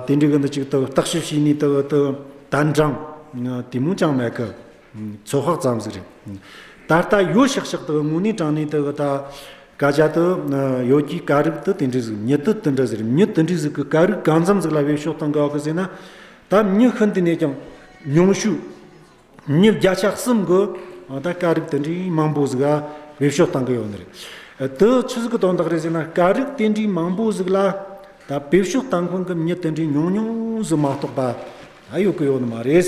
དེ་འགྲིག་གི་འདུག་ཅིག་ཏུ་བརྟག་ཞིབ་བྱས་ནས་དག་ཏུ་དལ་འབྲང། དེ་མུས་ཀྱང་མེད་ཀི། ཚོད་དཔག་ཙམ་ཟིག་རེད། ད་ལྟ་ཡོད་ཤག་ཤག་དག་དངོས་གནས་དྲང་གནས་དག་ཏུ། ཀ་རྒྱ་དུ་ཡོད་ཀྱི་ཀ་རིགས་དུ་དེ་འགྲིག་ཟིག་མྱི་དུ་དེ་འདྲ་ཟིག་རེད་མྱི་དེ་འགྲིག་ཟིག་གི་ཀ་རིགས་གང་འཚམ་ཟིག་ལ་བས་ཤོག་དང་དགའ་གི་ཟེར་ན། ད་མྱི་ཤི་འདི་ནས་ཀྱང་ཉུང་ཤུག། མྱི་བརྒྱ་ཆ་གསུམ་གུ། ད་དཀའ་རིགས་དེ་འདྲི་མང་པོ་ཟིག་ལ་བེད་ཤོག་བཏང་གི་ཡོག་ནི་རེད། དུ་ཆི་ཟིག་གི་དོན་དག་རེད་ཟེར་ན་དཀའ་རིགས་དེ་འདྲི་མང་པོ་ཟིག་ལ་ད་བེད་ཤོག་བཏང་ཁུང་གི་མྱི་དེ་འདྲི་ཉུང་ཉུང་ཟིག་མ་གཏོགས་པ་ད་ཡོག་གི་ཡོག་ནི་མ་རེད།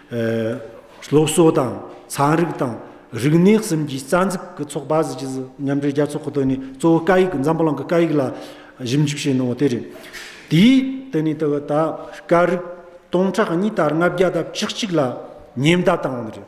སློབ་གསོ་དང་ཚན་རིག་དང་རིག་གནས་གསུམ་གྱི་རྩ་འཛུགས་ཀྱི་ཚོགས་པ་གཟི་བརྗིད་མཉམ་འབྲེལ་རྒྱལ་ཚོགས་ཁོ་ཐོག་ནས་གཙོ་བོ་སྐད་ཡིག་འཛམ་བུ་གླིང་གི་སྐད་ཡིག་ལ་ཞིབ་འཇུག་བྱས་གནང་བ་དེ་རེད། དེའི་སྟེང་ནས་ད་བར་སྐད་རིགས་སྟོང་ཕྲག་གཉིས་དར་ལྔ་བརྒྱ་དང་བཅུ་གཅིག་ལ་ཉེན་བརྡ་བཏང་བ་རེད།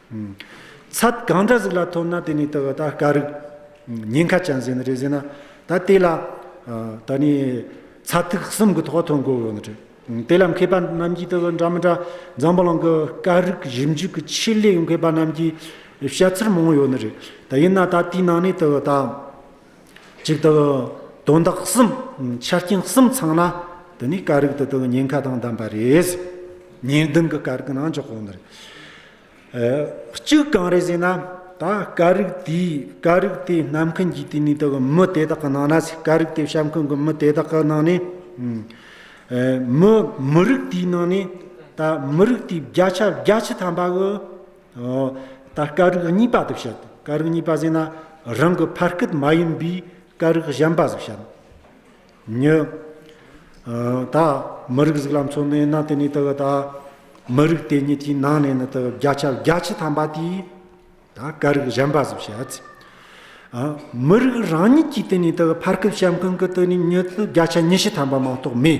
ཚད་གང་འདྲ་ཟིག་ལ་ཐོབ་ན་དེ་ནི་དེ་བས་ད་དཀའ་རིགས། ཉེན་ཁ་ཅན་ཟིན་རེ་ཟིན་ན་ད་དེ་ལ། ད་ནི་ཚད་ཐིག་གསུམ་གྱི་ཐོག་ཐོན་དགོས་ཡོད་རེད། དེ་ལ་མཁས་པ་རྣམས་ཀྱིས་དེ་བས་འདྲ་མི་འདྲ་འཛམ་བུ་གླིང་གི་དཀའ་རིགས་ཞིབ་འཇུག་གི་ཆེད་ལས་མཁས་པ་རྣམས་ཀྱིས་བཤད་ཚུལ་མང་ཡོད་ནི་རེད། ད་ཡིན་ན་ད་དེའི་ནང་ནས་དེ་བས་ད། གཅིག་ཏུ། དོན་དག་གསུམ། ཆ་རྐྱེན་གསུམ་ཚང་ན། དེ་ནི་དཀའ་རིགས་དེ་དག་ཉེན་ཁ་དང་ལྡན་པ་རེད། ཉེས་ལྡན་གྱི་དཀའ་རིགས་ནང་འཇོག་དགོས་ནི་རེད། གཅིག་གང་རེད་ཟེར་ན། ད་དཀའ་རིགས་དེས་དཀའ་རིགས་དེ་གནམ་མཁན་གྱིས་དེ་ནས་དག་མི་དེ་དག་གི་ནང་ན་ཟེར་དཀའ་རིགས་དེ་བྱམས་མཁན་གྱི་མི་དེ་དག་གི་ནང་ནས། མི་མི་རིགས་དེའི་ནང་ནས། ད་མི་རིགས་དེའི་བརྒྱ་ཆ་བརྒྱ་ཆ་ཐམ་པ་གི། ད་ཀ་རིགས་གཉིས་པ་དུ་བཤད་དོ། ཀ་རིགས་གཉིས་པ་ཟེར་ན་རང་གི་ཕ་སྐད་མ་ཡིན་པའི་ཀ་རིགས་གཞན་པ་ཟིག་བཤད་ན་ཉོན། ད་མི་རིགས་ཟིག་ལ་མཚོན་ནས་ན་དེ་ནས་དེ་ག་ད་མི་རིགས་དེ་ཉིད་ཀྱི་ནང་ནས་ནི་དེ་བརྒྱ་ཆ་བརྒྱ་ཆའི་ཐམ་པ་དེ་ད་ཀ་རིགས་གཞན་པ་ཟིག་བཤད་ཚིག། མི་རིགས་རང་ཉིད་ཀྱི་དེ་ནས་དེ་ག་ཕ་སྐད་བཤད་མཁན་གི་དེ་ནི་ཉོན་དུ་བརྒྱ་ཆ་ཉི་ཤུ་ཐམ་པ་མང་དོག་མེད།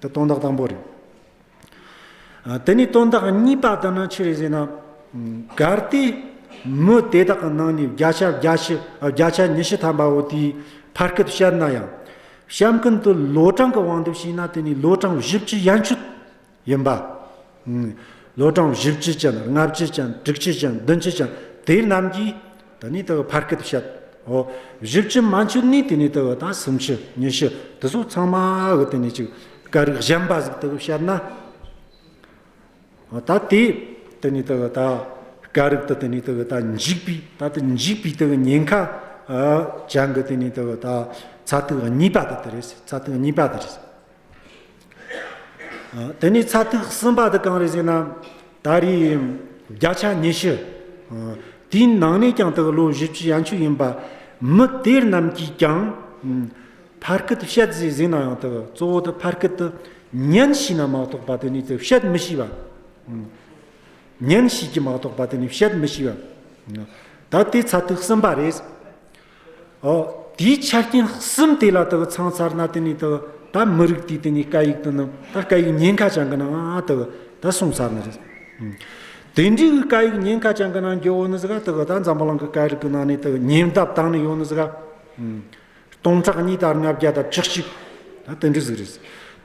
འདི་སྟོང་རྟགས་དང་པོ་རེད། དེ་ནས་སྟོང་རྟགས་གཉིས་པ་དེ་ནི་ཅི་རེད་ཟེར་ན། གལ་ཏེ་མི་དེ་དག་གི་ནང་ནས་བརྒྱ་ཆ་བརྒྱ་ཆ་ཉི་ཤུ་ཐམ་པ་བོ་དེའི་ཕར་སྐད་དུ་བཤད་ན་ཡང། བཤམས་མཁན་དུ་ལོ་གྲངས་ཀྱི་དབང་དུ་བྱས་ན་དེ་ནི་ལོ་གྲངས་བཞི་བཅུ་ཡན་ཆོད་ཡིན་པ། ལོ་གྲངས་བཞི་བཅུ་ཅན་ལྔ་བཅུ་ཅན་དྲུག་བཅུ་ཅན་བདུན་བཅུ་ཅན་དེ་རྣམས་ཀྱི་དེ་ནས་དེ་བར་སྐད་དུ་བཤད་དོ། བཞི་བཅུ་མ་འཆོལ་ནས་དེ་ནས་དེ་བར་དང་སུམ་ཅུ་ཉི་ཤུ་དེ་སོགས་ཚང་མ་གི་དེ་ནས་ཅིག་ཀ་རིགས་གཞན་པ་ཟིག་དེ་བར་བཤད་ན། ད་དེ་དེ་ནས་དེ་བར་ད་ཀ་རིགས་དེ་དེ་ནས་དེ་བར་ད་འཇིག་པའི་ད་དེ་འཇིག་པའི་དེ་བར་ཉེན་ཁ་ཅན་གྱི་དེ་ནས་དེ་བར་ད་ཚ་ཐིག་གཉིས་པ་དེ་དེ་རེད་ཟེར་ཚ་ཐིག་གཉིས་པ་དེ་རེད། དེ་ནས་ཚ་ཐིག་གསུམ་པ་འདི་གང་རེད་ཟེར་ན། ད་རེས་བརྒྱ་ཆ་ཉི་ཤུ། དེའི་ནང་ནས་ཀྱང་དགེ་ལུགས་བཞི་བཅུ་ཡན་ཆོད་ཡིན་པ། མི་དེ་རྣམས་ཀྱིས་ཀྱང་ཕར་སྐད་དུ་བཤད་ཟེར་ཟིན་ན་ཡང་དག་གཙོ་བོ་དེ་ཕར་སྐད་དུ་ཉན་བྱས་ན་མ་གཏོགས་པ་དེ་ནས་དེ་བཤད་མི་ཤེས་པ། ཉན་བྱས་ཀྱིས་མ་གཏོགས་པ་དེ་ནས་བཤད་མི་ཤེས་པ། ད་དེ་ཚ་ཐིག་གསུམ་པ་རེད། དེའི་ཆ་རྐྱེན་གསུམ་དེ་ལ་དག་ཚང་ཚར་ན་དེ་ནས་དག་ད་མི་རིགས་དེའི་དེ་ནས་སྐད་ཡིག་དུ་ནི་ད་སྐད་ཡིག་ཉེན་ཁ་ཅན་གི་ནང་དག་ད་གསུངས་ཚར་ནི་རེད། དེ་འདྲའི་གི་སྐད་ཡིག་ཉེན་ཁ་ཅན་གི་ནང་འགྱོ་བོ་ནི་ཟི་ག་དག་ད་འཛམ་བུ་གླང་གི་སྐད་རིགས་གི་ནང་ནས་དག་ཉེན་བརྡབ་བཏང་ནི་ཡོ་ནི་ཟི་ག། སྟོང་ཕྲག་གཉིས་དར་ལྔ་བརྒྱ་དར་བཅུ་གཅིག་ད་དེ་འདྲའི་ཟི་ག་རེད།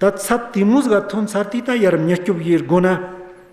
ད་ཚབ་དེ་མོ་ཟི་ག་ཐོན་ཚར་དུས་ད་ཡར་མྱི་སྐྱོབ་ཡེར་དགོ་ན།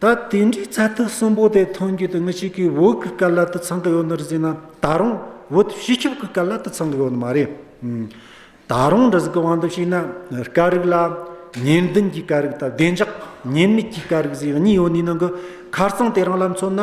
ད་དེ་འདྲའི་ཚ་ཐིག་གསུམ་པོ་དེ་ཐོན་རྒྱུ་དང་ངུ་ཤེས་ཀྱི་བོད་ཀྱི་སྐད་ལ་དུ་ཚང་གི་ཡོད་ནི་རེད་ཟེར་ན་ད་རུང་བོད་སྤྱི་ཁྱབ་ཀྱི་སྐད་ལ་དུ་ཚང་གི་ཡོད་ནི་མ་རེད། ད་རུང་འདི་ཟིག་གི་དབང་དུ་བྱས་ན་སྐད་རིགས་ལ་ཉེན་ལྡན་གྱི་སྐད་རིགས་དང་བདེ་འཇགས་ཉེན་མེད་ཀྱི་སྐད་རིགས་ཟེར་གཉིས་ཡོད་ནི་ནང་གི་ཁ་རྩང་དེ་རང་ལ་མཚོན་ན།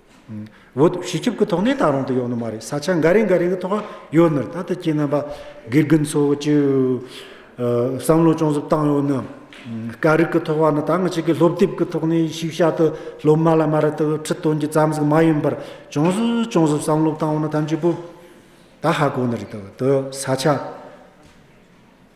འོད་ཞི་ཆུབ་ཀྱི་ཐོག་ནས་ད་རུང་དུ་ཡོད་ནི་མ་རེད་ས་ཆ་འགའ་རེ་འགའ་རེ་གི་ཐོག་ཡོད་ནི་རེད་ད་ལྟ་ཁྱེད་རྣམ་པ་དགེ་རྒན་ཚོ་བཅུ་བསམ་བློ་ཅུང་ཟད་བཏང་ཡོད་ནི། སྐད་རིགས་ཀྱི་ཐོག་བ་ནི་ད་ང་ཅིག་གི་སློབ་དེབ་ཀྱི་ཐོག་ནས་ཞིབ་བཤད་དུ་སློབ་མ་ལ་མ་རེད་དུ་ཁྲིད་སྟོན་གྱི་ཙམ་ཟིག་མ་ཡིན་པར་ཅུང་ཟད་ཅུང་ཟད་བསམ་བློ་བཏང་བ་ནི་ཐམས་ཅད་པོ་ད་ཧ་གོ་ནི་རེད་དུ་ས་ཆ་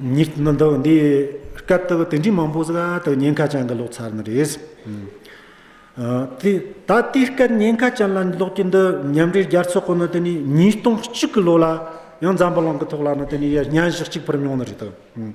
ཉིད་མི་འདུག་འདི་སྐབས་དེར་དེ་འདྲའི་མང་པོ་ཟ་དང་ཉེན་ཁ་ཅན་གྱི་ལོག་ཚར་ནི་རེད། ད་དེའི་སྐབས་ཉེན་ཁ་ཅན་ལ་ལོག་རྒྱུ་འདི་མཉམ་འབྲེལ་རྒྱལ་ཚོགས་ཁོ་ནི་དེ་ནས་ཉིས་སྟོང་གཅིག་གི་ལོ་ལ་ཡང་འཛམ་བུ་གླིང་གི་ཐོག་ལ་ནི་དེ་ནས་ཡང་གཉའ་གཞག་གཅིག་འཕུར་མྱོང་ནི་རེད།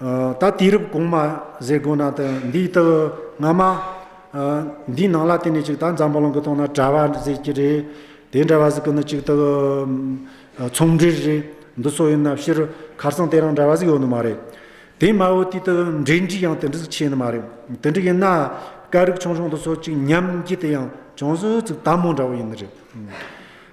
ད་དུས་རབས་གོང་མ་ཟེར་དགོས་ན་ད་འདིའི་སྟབས་སྔ་མ། འདིའི་ནང་ལ་དེ་ནས་ཅིག་ད་འཛམ་བུ་གླིང་གི་སྟེང་ན་གྲྭ་བ་ཟེར་གྱི་རེད། དེ་འདྲ་བ་ཟིག་གི་ནི་ཅིག་ད་ཚོང་འབྲེལ་རེད། འདི་སོགས་ཡིན་ན་ཕྱིར་ཁར་སང་དེ་རང་འདྲ་བ་ཟིག་ཡོད་ནི་མ་རེད། དེ་སྨྲ་བོ་དུས་ད་འབྲེལ་འདྲིས་ཡང་དེ་འདྲ་ཟིག་ཆེ་ནི་མ་རེད། དེ་འདྲ་ཡིན་ན་སྐད་རིགས་ཆུང་ཆུང་འདི་སོགས་ཅིག་ཉམས་བགྱིད་དེ་ཡང་ཅུང་ཟད་ཟིག་དམ་མོ་འདྲ་བོ་ཡིན་ནི་རེད།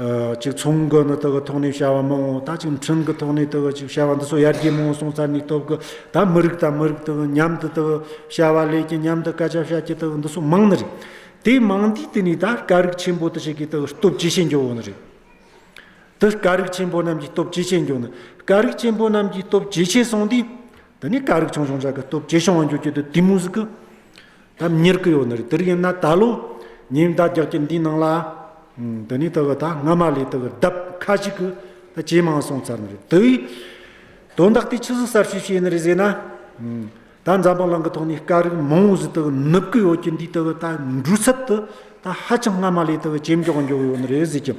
གཅིག་མཚུངས་ཀྱི་ནི་དག་གི་ཐོག་ནས་བྱ་བ་མང་བོ་དག་གཅིག་མཐུན་གྱི་ཐོག་ནས་དག་གི་ཅིག་བྱ་བ་འདི་ཚོ་ཡར་རྒྱས་མང་བོ་སོང་ཙར་ནས་སྟོབས་ཀྱི་དག་མི་རིགས་དང་མི་རིགས་དག་མཉམ་དུ་དག་བྱ་བ་ལས་ཀྱི་མཉམ་དུ་དཀའ་སྤྱད་བྱ་ཀྱི་དག་འདི་ཚོ་མང་ནི་རེད། དེ་མང་དུས་དེ་ནས་དག་དཀའ་རིགས་ཆེན་པོ་དག་ཅིག་གི་དག་སྟོབས་ཇེ་ཆེ་འགྱོ་བོ་ནི་རེད། དག་དཀའ་རིགས་ཆེན་པོ་རྣམས་ཀྱི་སྟོབས་ཇེ་ཆེ་འགྱོ་ནི་དགའ་རིགས་ཆེན་པོ་རྣམས་ཀྱི་སྟོབས་ཇེ་ཆེ་སོང་དུས། ད་ནི་ཀ་རིག་ཆང་ཆང་ཆག་གི་སྟོབས་ཇེ་ཞང་བ་འགྱུར་གྱི་དུ་དེ་མུ་ཟི་ཀི། ད་མྱིར་ཀི་ཡོ་ནི་རི་དིར་ཡིན་ན་ད་ལོ་ཉིན་བདག་རྒྱག་གྱི་འདི་ནང་ལ། ད་ནི་ད་གི་ད་སྔ་མ་ལས་ད་གི་ལྡབ་ཁ་ཅིག་གི་ད་ཇེ་མང་སོང་ཚར་ནི་རི་དིའི། དོན་དག་དེ་ཆི་ཟི་གསར་ཤོས་ཤིག་ཡིན་ནི་རི་ཟེ་ན། ད་འཛམ་བུ་གླང་གི་ཐོག་ནས་ཀ་རིག་མང་བོ་ཟི་ད་གི་ནུབ་ཀི་ཡོ་གྱི་འདི་ད་གི་ད་འབྲུ་ཚབ་དུ་ད་ཧ་ཅང་སྔ་མ་ལས་ད་གི་ཇེ་མགྱོགས་འགྱོ་གི་ཡོ་ནི་རི་ཟེ་ཀྱི།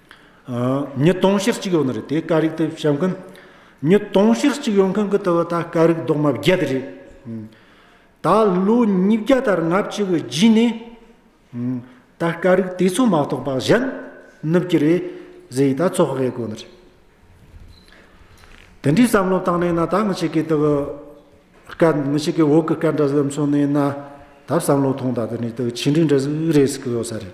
ཉིས་སྟོང་ཕྱིར་གཅིག་ཡོང་ནི་རེད་དེ་ཀ་རིག་དེ་བཤད་མཁན། ཉིས་སྟོང་ཕྱིར་གཅིག་ཡོང་མཁན་གྱི་ལྟ་བ་ད་ཀ་རིག་རྡོག་མ་བརྒྱད་དེ་རེད། ད་ལོ་ཉིས་བརྒྱ་དར་ལྔ་བཅུ་གི་རྗེས་ནས། ད་ཀ་རིག་དེ་ཚོ་མ་རྟོགས་པ་གཞན་ནུབ་ཀྱི་རེད་ཟེར་ཡིས་ད་ཚོགས་དབྱེ་དགོས་ནི་རེད། དེ་འདྲའི་བསམ་བློ་བཏང་ནས་ན་ད་མི་ཞིག་གི་ལྟ་བུ། སྐད་མི་ཞིག་གི་འོག་གི་སྐད་འདྲ་ཟིག་མཚོན་ནས་ན་ད་བསམ་བློ་ཐོངས་ད་དེ་ནས་ཆིག་འགྲིག་འདྲ་ཟིག་རེད་ཟེར་གྱི་ཡོད་ས་རེད།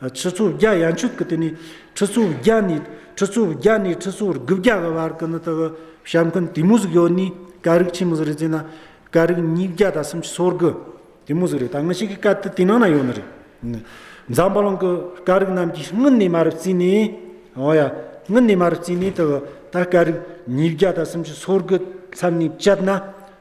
ཁྲི་ཚོ་བརྒྱ་ཡ་མཆོད་ཀྱི་དུས་ནི་ཁྲི་ཚོ་བརྒྱ་ནས་ཁྲི་ཚོ་བརྒྱ་ནས་ཁྲི་ཚོ་དགུ་བརྒྱ་གི་བར་གྱི་ནི་དག་ཞབས་མཁན་དུས་མོ་ཟིག་ཡོད་ནི་ཀ་རིག་ཆེན་མོ་ཟིག་རེད་ཅེ་ན་ཀ་རིག་ཉིས་བརྒྱ་དང་སུམ་ཅུ་སོ་དགུ་དུས་མོ་ཟིག་རེད་ད་ང་ཤི་གི་སྐབས་དེ་དུས་ནང་ན་ཡོད་ནི་རེད། འཛམ་བུ་གླིང་གི་ཀ་རིག་རྣམས་ཀྱི་སྔུན་ནས་མ་རུ་བརྩིས་ནས་འོ་ཡ་སྔུན་ནས་མ་རུ་བརྩིས་ནས་དག་ད་ཀ་རིག་ཉིས་བརྒྱ་དང་སུམ་ཅུ་སོ་དགུ་མཚམས་ནས་བཅད་ན།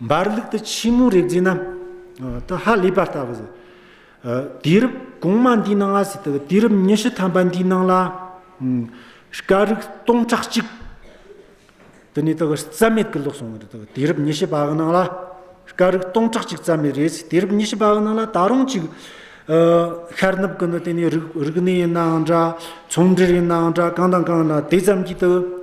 འབར་ལུགས་དུ་ཕྱི་མོའི་རེག་ཟིན་ནམ། དུ་ཧ་ལས་པར་ལྟ་བུ། དུས་རབས་གོང་མ་འདིའི་ནང་ང་ཟིག་དུ་དུས་རབས་ཉི་ཤུ་ཐམ་པ་འདིའི་ནང་ལ། སྐ་རུག་སྟོང་ཕྲག་གཅིག། དུ་ནས་དུ་རྩ་མེད་གི་ལོག་སོང་བ་རེད་དུ་དུས་རབས་ཉི་ཤུ་པའི་ནང་ལ། སྐ་རུག་སྟོང་ཕྲག་གཅིག་རྩ་མེད་རེད་ཟིག་དུས་རབས་ཉི་ཤུ་པའི་ནང་ལ་ད་རུང་ཅིག། ཤར་ནུབ་ཀུན་ཏུ་དེ་ནས་རིག་གནས་ཡིན་ནའང་འདྲ། ཚོང་འབྲེལ་ཡིན་ནའང་འདྲ་གང་དང་གང་ལ་དེ་ཙམ་གྱིས་དུ།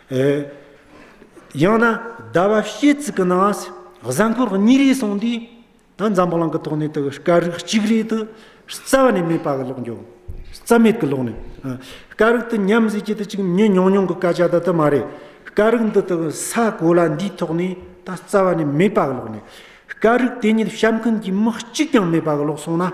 ཡང་ན་ཟླ་བ་ཕྱེད་ཙིག་གི་ནང་གཟའ་འཁོར་གཉིས་རེ་སོང་དུས་ད་འཛམ་བུ་གླིང་གི་ཐོག་ནས་དུ་སྐར་རིགས་གཅིག་རེ་དུ་རྩ་བ་ནས་མེད་པ་གི་ལོག་འགྱོ། རྩ་མེད་གི་ལོག་ནས། སྐར་རིགས་དུ་ཉམས་བཟས་ཀྱི་དུ་ཅིག་ཉིན་ཉུང་ཉུང་གི་སྐར་ཆ་ད་དུ་མ་རེད། སྐར་རིགས་འདི་དག་ས་གོ་ལ་འདིའི་ཐོག་ནས་ད་རྩ་བ་ནས་མེད་པ་གི་ལོག་ནས། སྐར་རིགས་དེ་ཉིད་བཤམས་མཁན་གྱི་མི་གཅིག་ཀྱང་མེད་པ་གི་ལོག་སོང་ན།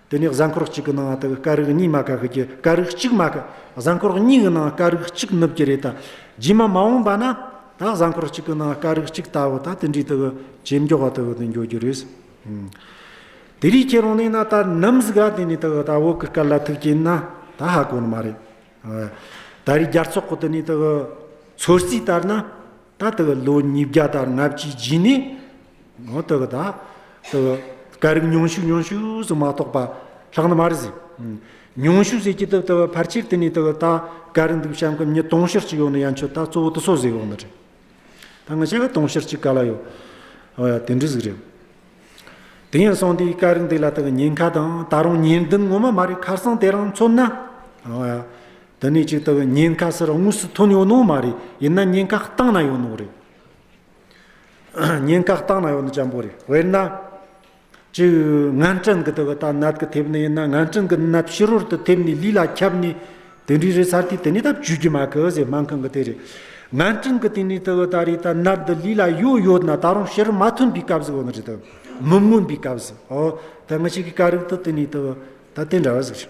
དེ་ནས་གཟའ་འཁོར་གཅིག་གི་ནང་དུ་སྐ་རིགས་གཉིས་མ་ག་གི་རྒྱུ་སྐ་རིགས་གཅིག་མ་གི་གཟའ་འཁོར་གཉིས་གི་ནང་སྐ་རིགས་གཅིག་ནུབ་ཀྱི་རེད་ད་རྗེས་མ་མ་འོངས་པ་ན་ད་གཟའ་འཁོར་གཅིག་གི་ནང་སྐ་རིགས་གཅིག་ལྟ་བུ་ད་དེ་འདྲའི་དགུ་ཇེ་མགྱོགས་བ་དགུ་དུ་འགྱོ་རྒྱུ་རེད། དེ་རིགས་ཁྱེད་རང་ནས་ན་ད་ནམ་ཟིག་ག་དེ་ནས་དགུ་ད་བོད་ཀི་སྐད་ལ་ཐུག་གྱིན་ན་ད་ཧ་གོ་ནི་མ་རེད། ད་རིགས་རྒྱ་ཚོགས་གི་དེ་ནས་དགུ་ཚོད་རྩིས་ལྟར་ན་ད་ལྟ་བའི་ལོ་ཉིས་བརྒྱ་དང་ལྔ་བཅུའི་རྗེས་ནས་ནང་དུ་ད་ལྟ་བའི་སྐད་རིགས་ཉུང་ཤོས་ཉུང་ཤོས་སུ་མ་གཏོགས་པ་ལྷག་ན་མ་རེད་ཟེར། ཉུང་ཤོས་ཟེར་གྱི་ད་ལྟ་བའི་ཕར་ཆེར་དེ་ནས་ད་ལྟ་སྐད་རིགས་འདུག་བྱ་འགུལ་གཉིས་དུང་ཕྱུར་གཅིག་ཡོད་ན་ཡང་ཆོག་ད་གཙོ་བོ་དུ་སོ་ཟེར་ཡོང་ན་རེད། ད་ང་བྱས་པ་དུང་ཕྱུར་གཅིག་ག་ལ་ཡོད། དེ་འདྲ་ཟིག་རེད། དེ་ཡིན་སོང་དེའི་སྐད་རིགས་འདི་ལ་ད་ཉེན་ཁ་དང་ད་རུང་ཉེན་བདུན་ངོ་མ་མ་རེད་ཁ་སང་དེ་རང་མཚོན་ན། དེ་ནས་ཅིག་ལྟ་བུའི་ཉེན་ཁ་སེར་དངོས་སུ་ཐོན་ཡོད་ནོ་མ་རེད་ཡིན་ན་ཉེན་ཁ་བཏང་ན་ཡོད་ནོ་རེད། ཉེན་ཁ་བཏང་ན་ཡོད་ནོ་ཅང་པོ་རེད་དཔེར་ན། ཅིག་ངན་སྤྲིན་གྱི་ལྟ་བུ་ལྟར་ནད་ཀྱི་ཐེབས་ནས་ཡིན་ན་ངན་སྤྲིན་གྱི་ནད་ཕྱི་རོལ་དུ་ཐེབས་ནས་ལུས་ལ་ཁྱབ་ནས་དེ་འདྲའི་རེད་ཚར་དུས་དེ་ནས་ད་བཅོས་རྒྱུ་མ་གི་ཟེར་སྨན་ཁང་གི་དེ་རེད། ངན་སྤྲིན་གྱི་དེ་ནས་ལྟ་བུ་ལྟར་རེད་ད་ནད་འདི་ལུས་ལ་ཡོད་ཡོད་ན་ད་རུང་ཕྱིར་མ་ཐོན་པའི་སྐབས་སུ་ཡོད་ནོ་རེད་དམ། མི་མངོན་པའི་སྐབས་སུ་ཨོ་ད་ངི་ཞིག་གིས་ཀ་རིག་ཏུ་དེ་ནས་ལྟ་བུ་ད་དེ་འདྲ་བ་ཟེར།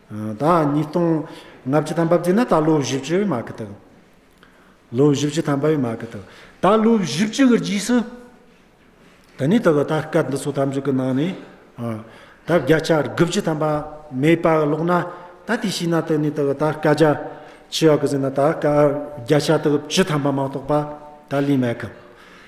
ཟླ་ཉིས་སྟོང་ལྔ་བཅུ་ཐམ་པ་བརྒྱུད་ན་ད་ལོ་བཞི་བཅུ་ཡོད་མ་གི་འདུག། ལོ་བཞི་བཅུ་ཐམ་པ་ཡོད་མ་གི་འདུག་ད་ལོ་བཞི་བཅུ་གི་རྗེས་སུ། ད་ནི་ད་གི་ད་སྐད་འདི་ཚོ་ཐམས་ཅད་ཀྱི་ནང་ནས། ད་བརྒྱ་ཆ་དགུ་བཅུ་ཐམ་པ་མེད་པ་ལོག་ན། ད་དེ་ཤེས་ན་ད་ནི་ད་གི་ད་སྐད་རྒྱ་ཆེ་བ་གི་ཟེར་ན་ད་སྐད་བརྒྱ་ཆ་དགུ་བཅུ་ཐམ་པ་མ་གཏོགས་པ་ད་ལས་མེད་གི།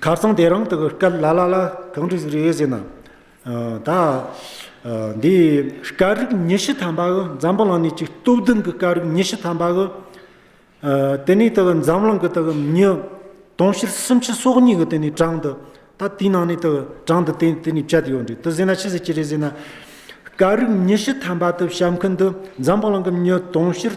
ཁ་སང་དེ་རིང་དུ་སྐད་ལ་ལ་ལ་གང་དུ་ཟིག་རེད་ཟེར་ན། ད། འདི་སྐད་རིགས་ཉི་ཤུ་ཐམ་པ་འི་འཛམ་བུ་གླང་ནས་ཀྱི་སྟོབས་ལྡན་གྱི་སྐད་རིགས་ཉི་ཤུ་ཐམ་པ་འི། དེ་ནས་དུ་འཛམ་གླིང་གི་དུ་མྱི་དུང་ཕྱུར་སུམ་ཅུ་སོ་གཉིས་གི་དེ་ནས་གྲངས་འདི། ད་དེའི་ནང་ནས་དུ་གྲངས་འདི་དེ་དེ་ནས་བཅད་དུ་ཡོད་རེད་དུ་ཟེར་ན་ཅི་ཟེར་གྱི་རེད་ཟེར་ན། སྐད་རིགས་ཉི་ཤུ་ཐམ་པ་དུ་བཤད་མཁན་དུ་འཛམ་བུ་གླང་གི་མྱི་དུང་ཕྱུར།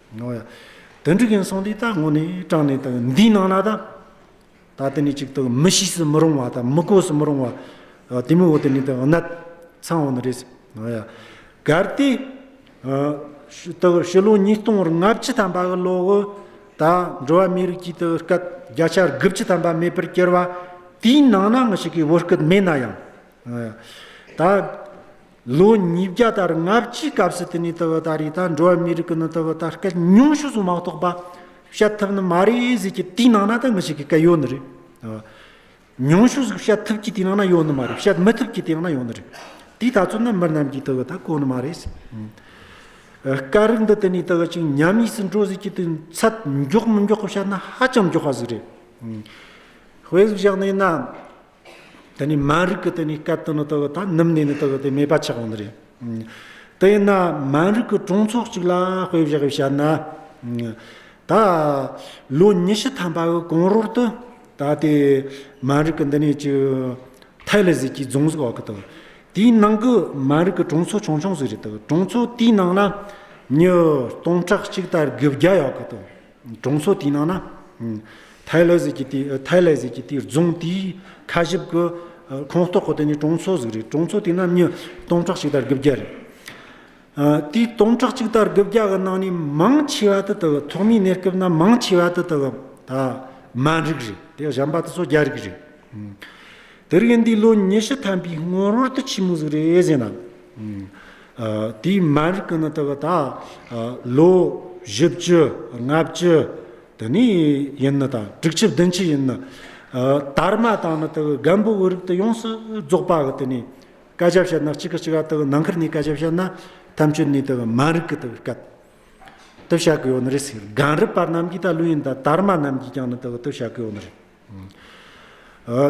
ནོ། དོན་འགྲུབ་ཡིན་སོང་དུས་ད་ངོ་ནས་དྲངས་ནས་དང་འདིའི་ནང་ན་ད། ད་དེ་ནས་གཅིག་ཏུ་མི་ཤེས་སུ་མི་རུང་བ་དང་མི་གོ་སུ་མི་རུང་བ། དེ་མི་འོ་དེ་ནས་དང་ནད། ཚང་འོ་ནི་རེད། གལ་ཏེ། དང་ཕྱི་ལོ་ཉིས་སྟོང་རིང་ལྔ་བཅུ་ཐམ་པ་གི་ལོ་དབུ། ད་འགྲོ་བ་མིའི་རིགས་ཀྱི་དུ་སྐད་བརྒྱ་ཆ་དགུ་བཅུ་ཐམ་པ་མེད་པར་གྱུར་བ། དེའི་ནང་ན་ང་ཞིག་གི་བོད་སྐད་མེད་ན་ཡང། ད། ལོ་ཉིས་བརྒྱ་དར་ལྔ་བཅུའི་སྐབས་སུ་དེ་ནས་དུ་བུ་དར་ཡུལ་དང་འགྲོ་བ་མིའི་རིགས་ཀྱི་ནི་དུ་བུ་དར་སྐད་ཉུང་ཤོས་སུ་མ་གཏོགས་པ་བཤད་ཐབས་ནི་མ་རེད་ཟེར་གྱི་དེའི་ནང་ན་ད་ངུ་ཞིག་གི་སྐད་ཡོད་ནི་རེད། ཉུང་ཤོས་སུ་བཤད་ཐུབ་ཀྱི་དེའི་ནང་ན་ཡོད་ནི་མ་རེད་བཤད་མི་ཐུབ་ཀྱི་དེའི་ནང་ན་ཡོད་ནི་རེད། དེའི་ད་ཚོད་ནི་མི་རྣམས་ཀྱིས་དུ་བུ་དར་གོ་ནི་མ་རེད། སྐད་རིགས་འདི་དེ་ནས་དུ་བུ་ཅིག་ཉམས་དམིགས་སུ་འགྲོ་ཟེར་གྱི་དུས་ཚད་མགྱོགས་མི་མགྱོགས་ཀྱི་བཤད་ན་ཧ་ཅང་མགྱོགས་པ་ཟིག་རེད། དཔེ་ཟིག་བཞག་ནས་ན། དེ་ནི་མ་རིག་གི་དེ་ནི་སྐད་དོན་ནི་དེ་ད་ནུབ་ནས་ནི་དེ་མེད་པ་ཆགས་ནི་རེད། དེ་ན་མ་རིག་གི་གྲོང་ཚོགས་གཅིག་ལ་དཔེ་བཞག་གིས་བཤད་ན། ད་ལོ་ཉི་ཤུ་ཐམ་པ་གི་གོང་རོལ་དུ་ད་དེ་མ་རིག་གི་འདི་ནས་ཀྱི་ཐའི་ལེ་ཟིག་གི་རྫོང་ཟིག་འོག་གི་དེ་དེའི་ནང་གི་མ་རིག་གི་གྲོང་ཚོ་ཆུང་ཆུང་ཟིག་རེད་དེ་གྲོང་ཚོ་དེའི་ནང་ན་ཉི་སྟོང་ཕྲག་གཅིག་ལྟར་དགུ་བརྒྱ་ཡོད་གི་དེ། གྲོང་ཚོ་དེའི་ནང་ན་ཐའི་ལེ་ཟེར་གྱི་དེའི་རྫོང་དེའི་ཁ་ཞིབ་ཀྱི་ཁོངས་གཏོགས་ཁོ་དེ་ནི་གྲོང་ཚོ་ཟིག་རེད་གྲོང་ཚོ་དེའི་ནང་མྱི་སྟོང་ཕྲག་གཅིག་དར་དགུ་བརྒྱ་རེད། དེའི་སྟོང་ཕྲག་གཅིག་དར་དགུ་བརྒྱ་གི་ནང་ནས་མང་ཆེ་བ་དེ་དག་ཐོག་མའི་གནས་སྐབས་ན་མང་ཆེ་བ་དེ་དག་མཱན་རིགས་རེད་དེ་གཞན་པ་དེ་ཚོ་རྒྱ་རིགས་རེད། དེ་རིང་འདི་ལོ་ཉི་ཤུ་ཐམ་པའི་སྔོན་རོལ་དུ་ཆེན་མོ་ཟིག་རེད་ཟེར་ན། དེའི་མར་ཀི་ནི་དག་ད་ལོ་བཞི་བཅུ་ལྔ་བཅུ་དེ་ནས་ཡིན་ནི་དང་དྲུག་ཆུ་བདུན་ཆུ་ཡིན་ནི། དར་མ་དང་ནི་དག་སྒམ་པོ་འི་རིགས་དེ་ཡོངས་སུ་རྫོགས་པ་གི་དེ་ནས་བཀའ་རྒྱ་བཤད་ན་གཅིག་གི་གཅིག་ག་དག་ནང་ཁུལ་ནས་བཀའ་རྒྱ་བཤད་ན་ཐམས་ཅད་ནས་དག་མར་ཀི་དག་བཀའ་བཏུ་བྱ་གི་ཡོད་ནི་རེད་ཟེར་གངས་རི་པ་རྣམས་ཀྱིས་ད་ལོ་ཡིན་ད་དར་མ་རྣམས་ཀྱིས་ཀྱང་ནི་དག་བཏུ་བྱ་གི་ཡོད་ནི་རེད།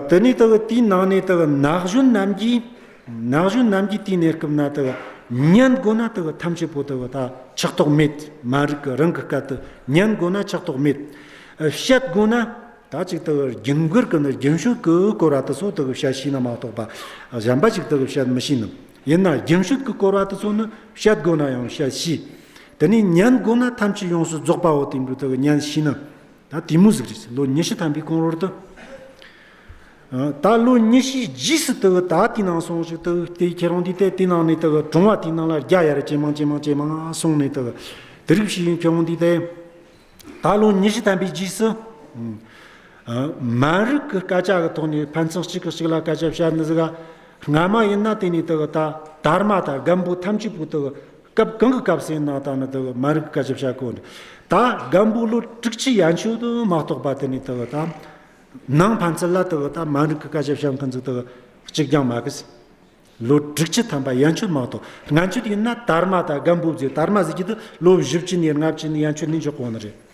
དེ་ནས་དག་དེའི་ནང་ནས་དག་ནག་གཞོན་རྣམས་ཀྱིས། ནག་གཞོན་རྣམས་ཀྱིས་དེའི་གནས་སྐབས་ན་དག་གཉན་དགོ་ན་དག་ཐམས་ཅད་པོ་དག་ད་ཆགས་ཐོགས་མེད་མ་རིག་གི་རང་གི་སྐལ་དུ་གཉན་དགོ་ན་ཆགས་ཐོགས་མེད། བཤད་དགོ་ན་ད་ཅིག་དག་རྒྱུན་བསྐུར་གི་ནི་རྒྱུན་བཤུག་གི་བསྐོར་བ་དེ་ཚོ་དག་བཤད་ཤེས་ན་མ་གཏོགས་པ་གཞན་པ་ཞིག་དག་བཤད་མི་ཤེས་ནི། ཡིན་ན་རྒྱུན་བཤུག་གི་བསྐོར་བ་དེ་ཚོ་ནི་བཤད་དགོ་ན་ཡང་བཤད་ཤེས། དེ་ནས་གཉན་དགོ་ན་ཐམས་ཅད་ཡོངས་སུ་རྫོགས་པའོ་དེ་འདྲུ་དག་གཉན་ཤེས་ནི། ད་དེ་མུ་ཟིག་རེད། ལོ་ཉི་ཤུ་ཐམ་པའི་གོང་རོལ་དུ། ད་ལོ་ཉི་ཤུའི་རྗེས་སུ་དེའུ་ད་དེ་ནང་སོང་ཞིག་དེའུ་དེ་ཁྱེད་རང་དེ་ལྟས་དེ་ནང་ནས་དེ་ག་གྲོང་བ་དེ་ནང་ལ་རྒྱ་ཡ་ར་ཇེ་མང་ཇེ་མང་ཇེ་མང་སོང་ནས་དེ་ག་དེ་རིགས་ཞིག་ཡིན་ཁྱེད་རང་དེ་ལྟས། ད་ལོ་ཉི་ཤུ་ཐམ་པའི་རྗེས་སུ། མ་རིག་གི་སྐད་ཆ་གི་ཐོག་ནས་ཕན་ཚུན་གཅིག་གིས་གཅིག་ལ་སྐད་ཆ་བཤད་ནི་ཟིག་ག། སྔ་མ་ཡིན་ན་དེ་ནས་དེ་ག་ད་དར་མ་དང་རྒན་པོ་ཐམས་ཅད་པོ་དེ་ག་སྐབས་གང་གི་སྐབས་སུ་ཡིན་ན་དང་ནི་དེ་བས་མ་རིག་གི་བཀའ་ཞབས་བྱ་གོལ། ད་གམ་བུ་ལོ་དྲུག་ཅུ་ཡན་ཆོད་དུ་མ་གཏོགས་པ་དེ་ནི་དེ་བས་དང། ནང་ཕན་ཚུན་ལ་དེ་བས་དང་མ་རིག་གི་བཀའ་ཞབས་བྱ་མཁན་ཚོ་དེ་བས་གཅིག་ཀྱང་མ་གིས། ལོ་དྲུག་ཅུ་ཐམ་པ་ཡན་ཆོད་མ་གཏོགས་ང་ཆོད་ཡིན་ན་དར་མ་དང་གམ་བུ་བརྒྱུད་དར་མ་ཟེར་གྱི་དུ་ལོ་བཞི་བཅུ་ཉེར་ལྔ་བཅུ་ནི་ཡན་ཆོད་ནི་འཇོག་གོ་ནི་རེད།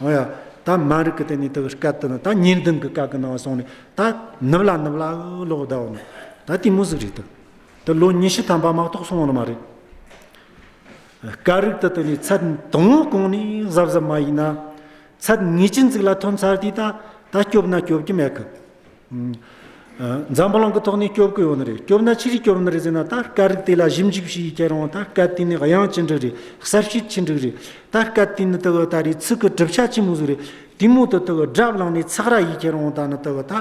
ཨོ་ཡ། ད་མ་རིག་གི་དེ་ནས་དེ་སྐད་དུ་ན་ད་ཉེར་བདུན་གྱི་སྐད་ཀྱི་ནང་བ་སོང་ནས་ད་ནུབ་ལ་ནུབ་ལ་འུ་ལོག་ཟླ་བ་མ། ད་དེ་མོ་ཟིག་རེད་དོ། དེ་ལོ་ཉི་ཤུ་ཐམ་པ་མ་གཏོགས་སོང་བ་ནི་མ་རེད། སྐད་རིག་དུ་དེ་ནས་ཚད་དང་བོ་གོང་ནས་གཟབ་གཟབ་མ་ཡིན་ན། ཚད་ངེས་ཅན་ཟིག་ལ་ཐོན་ཚར་དུས་ད་ད་སྐྱོབ་ན་སྐྱོབ་ཀྱི་མེད་གི། འཛམ་བུ་གླིང་གི་ཐོག་ནས་སྐྱོབ་དགོས་ཡོད་ནི་རེད་སྐྱོབ་ན་ཅི་རིགས་སྐྱོབ་ནི་རེད་ཟེར་ན་ད་སྐད་རིགས་དེ་ལ་ཞིབ་འཇུག་བྱེད་ཡུལ་སྐྱེ་རུང་ད་སྐད་དེ་ནི་དབྱངས་ཅི་འདྲི་རེད་གསར་ཤོས་ཅི་འདྲི་རེད་ད་སྐད་དེ་ནི་དེ་གི་ད་རེས་ཚིག་གི་གྲུབ་ཆ་ཅི་མི་བཟོ་རེད་དེ་མུ་མཐུད་དེ་གི་སྒྲ་བླངས་ནས་ཚགས་ར་ཡིས་ཁྱེར་རུང་ད་ནི་དེ་གི་ད་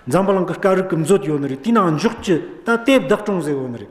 འཛམ་བུ་གླིང་གི་སྐད་རིགས་ཀྱི་མཛོད་ཡོད་ནི་རེད་དེའི་ནང་འཇོག་རྒྱུ་ད་དེབ་བདག་སྐྲུན་ཟེར་ཡོད་ནི་རེད།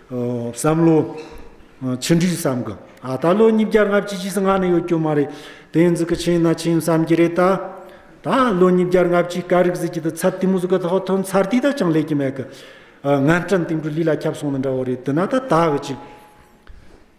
བསམ་བློ། ཕྱི་འབྲེལ་བསམ་གི་ཨ་ད་ལོ་ཉིས་བརྒྱ་ལྔ་བཅུ་ཕྱི་ཟླ་ལྔ་ནས་ཡོད་རྒྱུ་མ་རེད་དེ་འཛི་གི་ཆེན་ན་ཆེན་བསམ་གྱི་རེད་ད། ད་ལོ་ཉིས་བརྒྱ་ལྔ་བཅུའི་སྐ་རིག་ཟིག་གི་དུ་ཚབ་དུས་མུ་ཟུ་གི་ཐོག་ཐོན་ཚར་དུས་ད་ཅང་ལས་ཀྱི་མེད་གི། ངན་སྐྲན་དེང་དུ་ལུས་ལ་ཁྱབ་སོང་ནི་འདྲ་བོ་རེད་དུ་ན་ད་ད་གི་ཅིག།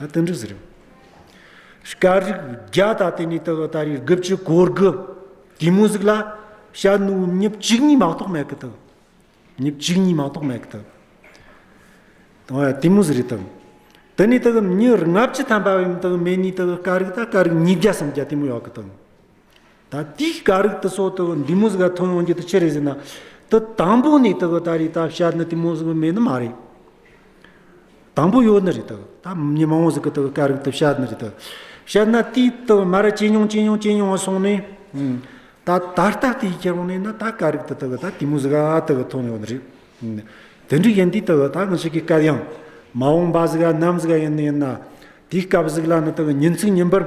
སྟོན་འགྲིག་ཟེར། སྐད་རིགས་བརྒྱ་དང་དེ་ནས་དག་ཨ་ད་རེས་དགུ་བཅུ་གོ་དགུ། དེ་མོ་ཟིག་ལ་ཤ་ནུ་ཉིབ་གཅིག་གཉིས་མ་གཏོགས་མེད་གི་དང། ཉིབ་གཅིག་གཉིས་མ་གཏོགས་མེད་གི་དང། དེ་མོ་ཟིག་རེད་དང། དེ་ནས་དག་ཉི་ལྔ་བཅུ་ཐམ་པ་བའི་དག་མེ་ནས་དག་སྐད་རིགས་དག་སྐད་རིགས་ཉིས་བརྒྱ་སམ་བརྒྱ་དེ་མོ་ཡོད་གི་དང། ད་ལྟའི་ཀ་རིགས་དུ་སོགས་དུ་འདི་མོ་ཟིག་ལ་ཐོན་ཡོང་རྒྱུ་དུ་ཆི་རེ་ཟིན་ན། དུ་དང་པོ་ནས་དུ་ད་རེས་ད་བཤད་ནི་དེ་མོ་ཟིག་མེད་ནི་མ་རེད། དང་པོ་ཡོད་ནི་རེད་དུ་ད་མི་མང་བོ་ཟིག་གི་དུ་ཀ་རིགས་དུ་བཤད་ནི་རེད་དུ། བཤད་ན་དེ་དུ་མ་ར་ཇེ་ཉུང་ཇེ་ཉུང་ཇེ་ཉུང་སོང་ནས། ད་ད་ལྟ་དེའི་ཁྱད་རོང་ནས་ན་ད་ཀ་རིགས་དུ་དུ་ད་དེ་མོ་ཟིག་ཨ་དུ་གི་ཐོན་ཡོང་ནི་རེད། དེ་འདྲའི་ཡིན་དུས་དུ་ད་ང་ཞིག་གི་སྐད་ཡང། མ་འོངས་པ་ཟིག་ཨ་ནམ་ཟིག་ཨ་ཡིན་ནི་ཡིན་ན། དེའི་སྐབས་ཟིག་ལ་ནི་དུ་ཉིན་ཚིག་ཉིན་པར།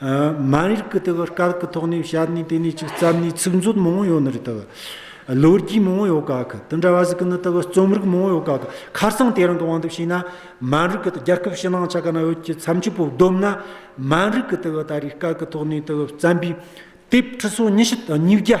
མ་རིག་གི་དེ་གི་སྐར་གི་ཐོག་ནས་ཞལ་ནས་དེ་ནས་ཅིག་རྩམ་ནས་ཚིག་མཛོད་མང་བོ་ཡོད་ནི་རེད་དེ་གི། ལོ་རྒྱུས་མང་བོ་ཡོད་ག་གི་དེ་འདྲ་བ་ཟིག་གི་ནི་དེ་གི་རྩོམ་རིག་མང་བོ་ཡོད་ག་གི་ཁར་སང་དེ་རང་གི་དབང་དུ་བྱས་ན་མ་རིག་གི་རྒྱལ་ཁབ་ཕྱི་ནང་ཆ་ག་ན་ཡོད་ཀྱི་མཚམས་ཆུ་བོ་བསྡོམས་ན་མ་རིག་གི་དེ་གི་ད་རེས་སྐར་གི་ཐོག་ནས་དེ་གི་རྩམ་པའི་དེབ་ཁྲི་སོ་ཉི་ཤུ་དང་ཉིས་བརྒྱ།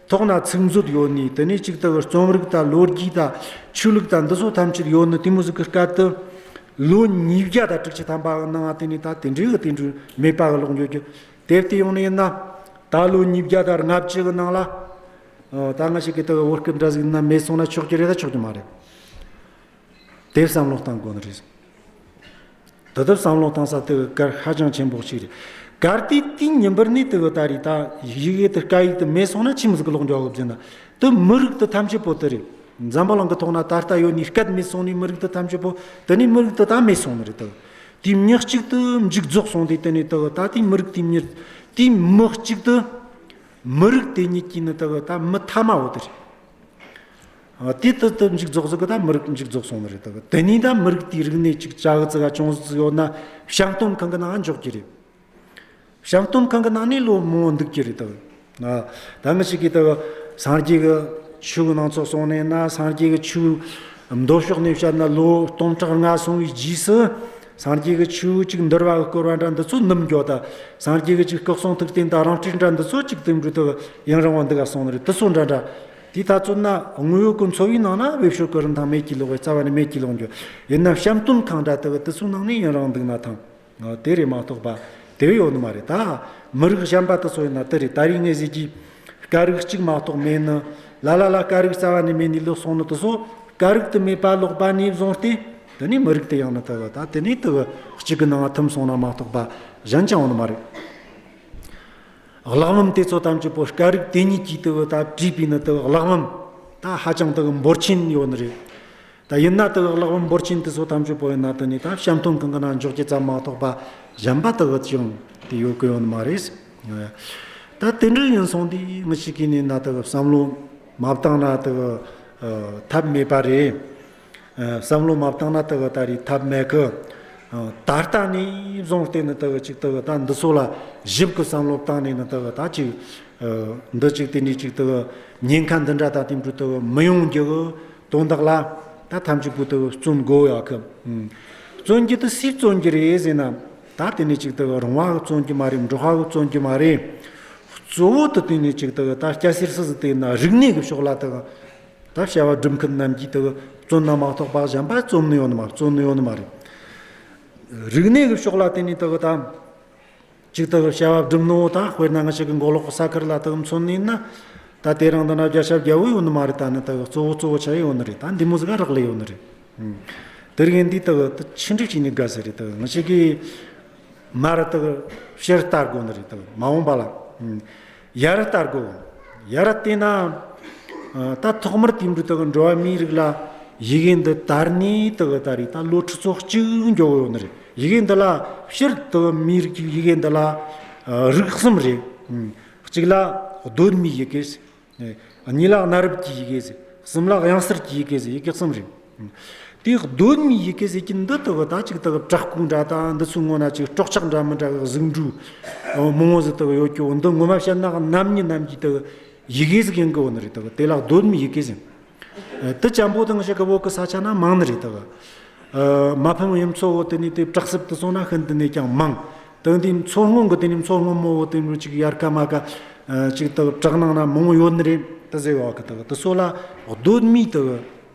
ཐོག་ན་ཚིག་མཛོད་ཡོད་ནི་དེ་ནས་གཅིག་དག་གི་རྩོམ་རིག་དང་ལོ་རྒྱུས་དང་ཆོས་ལུགས་དང་འདི་ཚོ་ཐམས་ཅད་ཡོད་ནི་དེ་མུ་ཟི་ཀི་སྐབས་དུ་ལོ་ཉིས་བརྒྱ་དང་དྲུག་ཅུ་ཐམ་པའང་སྣང་བ་དེ་ནས་ད་དེ་འདྲའི་གི་དེ་འདྲའི་མེད་པ་གི་ལོག་འགྱོད་ཀྱི་དེབ་དེ་ཡོང་ནི་ཡིན་ན་ད་ལོ་ཉིས་བརྒྱ་དང་ལྔ་བཅུ་གི་ནང་ལ་ད་སྔ་ཞིག་གི་དག་གི་བོད་སྐད་འདྲ་ཟིག་ན་མེད་སོང་ན་ཆོག་གི་རེད་ད་ཆོག་གི་མ་རེད། དེ་བསམ་བློ་བཏང་དགོས་ནི་རེད། དེ་ལྟར་བསམ་བློ་བཏང་ས་དེ་གའི་སྐར་ཧ་ཅང་ཆེན་པོ་ཞིག་རེད། སྐར་དེའི་སྟེང་ཉིན་པར་ནས་དེ་གའི་ད་རེས་ད་ཡིག་ཡིག་དེ་སྐད་ཡིག་དེ་མེད་སོང་ན་ཕྱི་མི་ཚོ་གི་ལོག་འགྲོ་གི་རྒྱུ་ན་དེ་མི་རིགས་དེ་ཐམས་ཅད་པོ་དེ་རེད། འཛམ་བུ་གླིང་གི་ཐོག་ན་ད་ལྟ་ཡོད་ནི་སྐད་མེད་སོང་ནི་མི་རིགས་དེ་ཐམས་ཅད་པོ་དེ་ནི་མི་རིགས་དེ་ད་མེད་སོང་ནི་རེད་དེ། དེའི་མྱི་གཅིག་དེ་མཇུག་རྫོགས་སོང་དེ་དེ་ནི་དེ་གའི་ད་དེའི་མི་རིགས་དེའི་མྱི་དེའི་མི་གཅིག་དེ། མི་རིགས་དེ་ཉིད་ཀྱི་ནི་དེ་གའི་ད་མི་ཐ་མའོ་དེ་རེད། དེ་ལྟར་དུ་འཇིག་རྫོགས་སུ་གི་ད་མི་རིགས་འཇིག་རྫོགས་སོང་བ་རེད་དོ། དེ་ནས་ད་མི་རིགས་དེའི་རིག་གནས་ཅིག་ཅག་ཙི་ག་ཅུང་ཟད་ཙི་ཡོད་ན་ཤང་སྟོན་ཁང་གི་ནང་འཇོག་གི་རེད། ཤང་སྟོན་ཁང་གི་ནང་ནས་ལོ་མང་བོ་འདུག་གི་རེད་དོ། ད་མི་ཞིག་གིས་ད་སངས་རྒྱས་ཀྱི་ཆོས་ནང་ཚོགས་སོང་ནས་ན་སངས་རྒྱས་ཀྱི་ཆོས་མདོ་ཕྱོགས་ནས་བཤད་ན་ལོ་སྟོང་ཕྲག་ལྔ་སོང་བའི་རྗེས་སུ་སངས་རྒྱས་ཀྱི་ཆོས་ཅིག་འདུལ་བ་བསྐུར་བ་འདྲ་འདི་ཚོ་ནུབ་འགྱོ་ད་སངས་རྒྱས་ཀྱི་ཅིག་སྐུ་གསུང་ཐུགས་རྟེན་ད་རང་སྤྲུལ་འདྲ་འདི་ཚོ་ཅིག་དུ་འགྲོ་ད་ཡང་རིང་བ་འདི་ག་སོང་ནི་རེད་དུ་སོ་འདྲ་འདྲ་དེའི་ལྟ་ཚུལ་ན་དངོས་ཡོད་ཀྱི་འཚོ་བའི་ནང་ན་འོས་ཤོག་གི་རིན་ཐང་མེད་ཀྱིས་ལོག་བའི་རྩ་བ་ནས་མེད་ཀྱིས་ལོག་འགྱུར་ཡིན་ནམ་བཤམས་སྟོན་ཁང་འདྲ་དེ་གི་དུས་ཚོད་ནང་ནས་ཡུན་རིང་འདུག་ན་ཐང་དེ་རེད་མ་གཏོགས་པ་དེ་བས་ཡོད་ནི་མ་རེད་ད། མི་རིགས་གཞན་པ་དུ་ཚོ་ཡིན་ན་དེ་རེད་ད་རེས་ངས་བཤད་རྒྱུའི་དཀའ་རིགས་གཅིག་མ་གཏོགས་མེད་ནི། ལ་ལ་ལ་དཀའ་རིགས་རྩ་བ་ནས་མེད་ནས་ལོག་སོང་ནི་དུ་ཚོ་དཀའ་རིགས་དུ་མེད་པ་ལོག་པ་ནས་བཟུང་སྟེ་དེ་ནས་མི་རིགས་དེ་ཡང་ནི་དེ་གི་ད་དེ་ནས་དེ་གི་གཅིག་གི་ནང་ཐིམ་སོང་ན་མ་གཏོགས་པ་གཞན་ཅང་ཡོད་ནི་མ་རེད། གླག་ལམ་དེ་ཚོ་ཐམས་ཅད་པོ་སྐྱ་རིགས་དེ་ཉིད་ཀྱིས་དེ་དག་བྲིས་པས་ན་དེ་དག་གླག་ལམ་ད་ཧ་ཅང་དེ་དག་འབོར་ཆེན་ཡོད་ནི་རེད། ད་ཡིན་ན་དེ་དག་གླག་ལམ་འབོར་ཆེན་དེ་ཚོ་ཐམས་ཅད་པོ་ཡིན་ན་དེ་ནི་ད་བྱམས་སྟོན་གྱི་གནང་འཇོག་བྱེད་ཙམ་མ་གཏོགས་པ་གཞན་པ་དེ་དག་ཅང་དེ་ཡོད་ཀྱི་ཡོད་ནི་མ་རེད། ད་དེ་འདྲ་ཡིན་སོང་དུས་མི་ཞིག་གིས་ནི་ན་དེ་དག་བསམ་བློ་མ་བཏང་ན་དེ་དག་ཐབས་མེད་པ་རེད། བསམ་བློ་མ་བཏང་ན་ལྟ་གི་ད་རེས་ཐབས་མེད་གི། ད་ལྟ་ནས་བཟུང་བལྟས་ནས་ལྟ་གི་ཅིག་ལྟ་གི་ད་འདི་ཚོ་ལ་ཞིབ་ཀྱི་བསམ་བློ་བཏང་ནས་ནི་ལྟ་གི་ད་ཅིག། འདི་ཅིག་དེ་འདྲས་ཅིག་ལྟ་གི། ཉེན་ཁ་འདི་འདྲ་ད་དེ་འདྲས་ལྟ་གི་མི་ཡོང་རྒྱུ་གི་དོན་དག་ལ། ད་ཐམས་ཅད་པོ་ལྟ་གི་བརྩོན་དགོས་ཡག་གི། བརྩོན་རྒྱུ་དེ་སུས་བརྩོན་རྒྱུ་རེད་ཟེར་ན། ད་དེ་འདྲས་ཅིག་ལྟ་གི་རང་དབང་གིས་བརྩོན་རྒྱུ་མ་རེད་འགྲོ་ཧ་གིས་བརྩོན་རྒྱུ་མ་རེད། གཙོ་བོ་དེ་དེ་འདྲས་ཅིག་ལྟ་གི་ད་སྐྱ་སེར་སུ་ཟིག་བལྟས་ན་རིག་གནས་ཀྱི་ཕྱོགས་ལ་ལྟ་གི། ད་བྱ་བ་སྒྲུབ་མཁན་རྣམས་ཀྱིས་དེ་བཙོན་ནང་མ་གཏོགས་པར་གཞན་པ་བཙོན་ནུས་ཡོད་ནི་མ་བཙོན་ནུས་ཡོད་ནི་མ་རེད། རིག་གནས་ཀྱི་ཕྱོགས་ལ་བརྟེན་ནས་དེ་དང། གཅིག་དེ་བྱ་བ་སྒྲུབ་ནུས་དང་དཔེར་ན་ང་ཞིག་གི་མགོ་ལོག་གི་ས་ཁུལ་ལ་དེ་མཚོན་ནུས་ན། ད་དེ་རང་དེ་འདྲ་རྒྱ་ཞབས་རྒྱལ་བོ་ཡོད་ནི་མ་རེད་ད་ནི་དེ་གཙོ་བོ་གཙོ་བོ་བྱ་ཡི་ཡོད་ནི་རེད་ད་འདི་མོ་ཟིག་ག་རག་ལས་ཡོད་ནི་རེད། དེར་དབྱེན་དེ་དེ་ཕྱི་འགྲིག་བྱས་ནས་དགའ་ཟེར་རེད་དེ་ང་ཞིག་གིས་མར་དེ་ཕྱིར་བལྟ་དགོས་ནི་རེད་དེ་མ་འོངས་པ་ལ། ཡར་བལྟ་དགོས། ཡར་བལྟས་ན། ད་ཐོག་མར་དུས་འགྲོ་དང་འགྲོ་བ་མིའི་རིགས་ལ་ཡི་གེ་འདི་དར་ནས་དེ་ག་ད་རེས་ད་ལོ་ཁྲི་ཚོ་གཅིག་འགྱོ་གི་ཡོད་ནི་རེད། ཡི་གེ་འདི་ལ་ཕྱིར་དེ་ག་མིའི་རིགས་ཀྱི་ཡི་གེ་འདི་ལ་རིགས་གསུམ་རེད། གཅིག་ལ་གདོད་མའི་ཡི་གེ། གཉིས་ལ་གནའ་རབས་ཀྱི་ཡི་གེ། གསུམ་ལ་དབྱངས་གསར་གྱི་ཡི་གེ་ཡི་གེ་གསུམ་རེད། དེའི་གདོད་ནས་ཡི་གེ་ཟེར་གྱི་འདི་ལྟ་བུ་དང་གཅིག་ལྟ་བུ་བྲག་ཁུང་འདྲ་དང་འདི་ཚོའི་ངོ་ན་ཅིག་སྤྲོག་ཆག་འདྲ་མི་འདྲ་བའི་གཟུགས་འགྲུས་མི་ངོ་ཟེར་ལྟ་བུ་ཡོད་ཀྱི་འོ་འདི་ངོ་མ་བཤད་ན་རྣམ་གཉིས་རྣམས་ཀྱི་དེ་ཡི་གེ་ཟེར་གྱི་འགི་འོ་ནི་རེད་ལྟ་བུ་དེ་ལ་གདོད་ནས་ཡི་གེ་ཟེར། དེ་ཅམ་པོ་དང་ཞེ་དགའ་བོ་གི་ས་ཆ་ན་མང་ནི་རེད་ལྟ་བུ། མ་ཕམ་ཡུམ་མཚོ་བོ་དེ་ནི་དེ་བྲག་གསེབ་ཏུ་སོང་ན་ཤིན་ཏུ་ནས་ཀྱང་མང། དེང་དུས་མཚོ་སྔོན་གྱི་དེ་ནི་མཚོ་སྔོན་མོ་བོ་དེ་ནི་ཅིག་ཡར་ཀ་མར་ཀ་ཅིག་ལྟ་བུ་བྲག་ནང་ན་མང་བོ་ཡོད་ནི་རེད་དེ་ཟེར་བ་ཀི་ལྟ་བུ་དེ་སོགས་ལ་གདོད་མའི་ལྟ་བུ།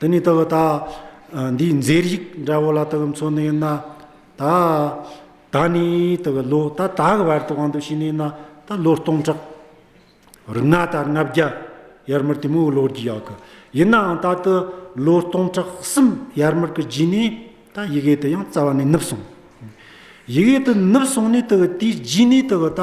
དེ་ནས་དག་ད་འདིའི་མཛེས་རིག་འདྲ་བོ་ལ་དག་མཚོན་ནས་ན། ད་ད་ནི་དག་ལོ་ད་ད་གི་བར་དུའང་དུ་ཕྱིན་ནས་ན་ད་ལོ་སྟོང་ཕྲག་རི་ང་དར་ལྔ་བརྒྱ་ཡར་མར་དེ་མོའི་ལོ་རྒྱུས་ཡག་གི། ཡིན་ནའང་ད་དུ་ལོ་སྟོང་ཕྲག་གསུམ་ཡར་མར་གི་རྗེས་ནས་ད་ཡི་གེ་དེ་ཡང་རྩ་བ་ནས་ནུབ་སོང། ཡི་གེ་དེ་ནུབ་སོང་ནས་དག་དེའི་རྗེས་ནས་དག་ད།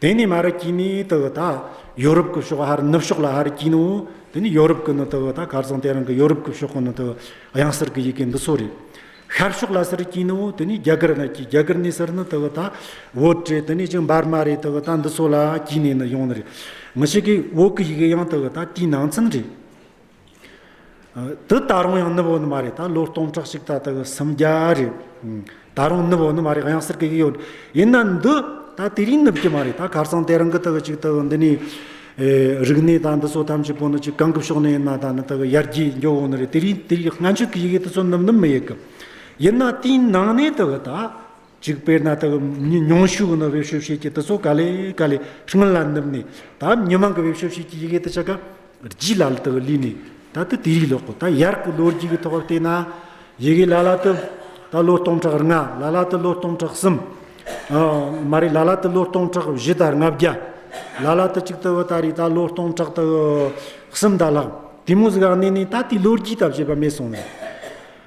དེ་ནི་མ་རི་སྐྱིད་ནི་དེ་ད་ཡོ་རུབ་ཀི་ཕྱོགས་ཧར་ནུབ་ཕྱོགས་ལ་ཧར་སྐྱིད་ནོ། དེ་ནི་ཡོ་རུབ་ཀི་ནི་དེ་ད་གར་སོང་དེ་རང་གི་ཡོ་རུབ་ཀི་ཕྱོགས་ནི་དེ་གཡང་སར་གི་ཡི་གེ་འདི་ཚོ་རེད། ཤར་ཕྱོགས་ལ་སིར་སྐྱིད་ནོ་དེ་ནི་རྒྱ་གར་ན་སྐྱིད་རྒྱ་གར་ནི་སིར་ནི་དེ་ད་བོད་རེད་དེ་ནི་ཅི་འབར་མ་རེད་དེ་ད་འདི་ཚོ་ལ་སྐྱིད་ནི་ནི་ཡོང་ནི་རེད། མི་ཤེས་གི་བོད་ཀི་ཡི་གེ་ཡང་དེ་ད་དེའི་ནང་ཚན་རེད། དུ་ད་རུང་ཡང་ནུབ་འོག་ནི་མ་རེད་ད་ལོ་སྟོང་ཕྲག་གཅིག་ད་ལྟ་གི་སུམ་བརྒྱ་རེད་ད་རུང་ནུབ་འོག་ནི་མ་རེད་ཡང་ཟེར་གི་ཡོད་ཡིན་ན་འདི་ད་དེ་རིང་ནུབ་ཀྱི་མ་རེད་ད་ཁར་སང་དེ་རང་གི་ད་གི་ཅིག་ད་གི་འདི་ནི་རིག་གནས་ད་འདི་ཚོ་ཐམས་ཅད་པོ་ནི་ཅིག་གང་གི་ཕྱོགས་ནས་ཡིན་ན་ད་ནི་ད་གི་ཡར་རྒྱས་མགྱོགས་འོག་ནི་རེད་དེ་རིང་དེ་རིང་སྔ་མཇུག་གི་ཡི་གེ་དེ་ཚོ་ནུབ་ནི་མི་ཡི་གི་ཡིན་ན་དེའི་ནང་ནས་ད་གི་ད་གཅིག་དཔེར་ན་དག་མྱོང་ཞུགས་ནི་བེད་སྤྱོད་བྱེད་ཀྱི་དུས་ཚོད་ག་ལས་ག་ལས་ཤིང་ལ་ནུབ་ནས་ད་མྱི་མང་གི་བེད་སྤྱོད་བྱེད་ཀྱི་ཡི་གེ་དུ་ཆ་ག་རྗེས་ལ་ལ་དག་བསླུས་ནས་ད་དུ་དེ་རིགས་ལོག་གོ་ད་ཡར་གི་ལོ་རྒྱུས་ཀྱི་ཐོག་བལྟས་ན་ཡི་གེ་ལ་ལ་དུ་ད་ལོ་སྟོང་ཕྲག་ལྔ་ལ་ལ་དུ་ལོ་སྟོང་ཕྲག་གསུམ་མ་རེད་ལ་ལ་དུ་ལོ་སྟོང་ཕྲག་བཞི་དང་ལྔ་བརྒྱ་ལ་ལ་དུ་གཅིག་དུ་ད་རེས་ད་ལོ་སྟོང་ཕྲག་དུ་གསུམ་དང་ལྷག་དེ་མོ་ཟིག་ག་གནས་ནས་ད་དེའི་ལོ་རྒྱུས་ད་བྱེད་པ་མེད་སོང་ནས།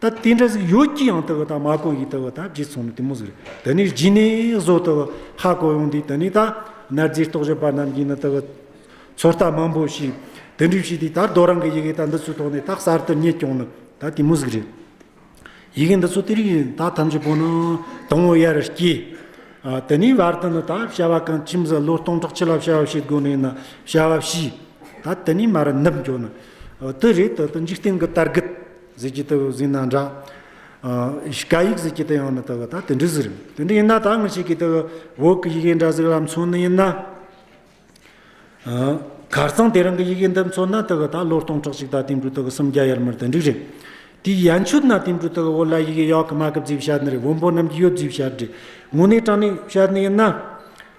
ད་དེ་འདྲ་ཟིག་ཡོད་ཀྱི་ཡང་ཏི་བ་དང་མ་གོ་ཡི་ཏི་བ་དང་བརྗེ་ཚོང་ནི་དེ་མོ་ཟིག་རེད་ད་ནི་བརྗེ་ནས་བཟོ་ཏི་བ་ཧ་གོ་ཡོང་དུས་ད་ནི་ད་ནར་རྫས་རྟོག་ཞིབ་པ་རྣམས་ཀྱིས་ནི་ཏི་བ་ཚོར་ལྟ་མང་པོ་ཞིག་དེ་འདྲི་བྱས་དུས་ད་རྡོ་རང་གི་ཡི་གེ་ད་འདི་ཚོའི་ཐོག་ནས་ད་གསར་དུ་རྙེད་སྐྱོང་ནི་ད་དེ་མོ་ཟིག་རེད། ཡི་གེ་འདི་ཚོ་དེ་རིགས་ཡིན་ད་ཐམས་ཅད་པོ་ནི་དང་བོ་ཡར་སྐྱེས། དེ་ནས་བར་དུ་ནི་ད་བྱ་བ་གང་ཁྱིམ་ཟ་བློ་གཏོང་དྲག་ཆེ་ལ་བྱ་བ་བྱེད་དགོས་ནས་ནི་བྱ་བ་བྱས། ད་དེ་ནས་མར་ནུབ་འགྱོ་ནི་ཏི་རེད་ད་ཏི་འཇིག་རྟེན་གྱི་དར་རྒུད། ཟེར་གྱི་ལྟ་བུ་ཟིན་ན་འདྲ། ཀ་ཡིག་ཟེར་གྱི་ལྟ་ཡང་ནི་ལྟ་བུ་དག་དེ་འདྲས་ཟེར། དེ་འདྲ་ཡིན་ན་དག་མི་བྱེད་ཀྱི་ལྟ་བུ་འོག་གི་ཡི་གེ་འདྲ་ཟེར་བ་ལ་མཚོན་ནི་ཡིན་ན། གར་ཚང་དེ་རང་གི་ཡི་གེ་འདི་མཚོན་ན་ལྟ་བུ་དག་ལོ་སྟོང་ཕྲག་གཅིག་དག་དེང་འབྲུག་ལྟ་བུ་སུམ་བརྒྱ་ཡར་མར་དེ་འདྲས་རེད། དེའི་ཡན་ཆོད་ན་དེང་འབྲུག་ལྟ་བུ་འོག་ལ་ཡི་གེ་གཡག་གི་མ་གི་བརྫིས་བྱ་ནི་རེད་བོན་པོ་རྣམས་ཀྱི་ཡོད་བརྫིས་བྱ་རེད། ངོ་ནས་དྲངས་ནས་བྱ་ནི་ཡིན་ན།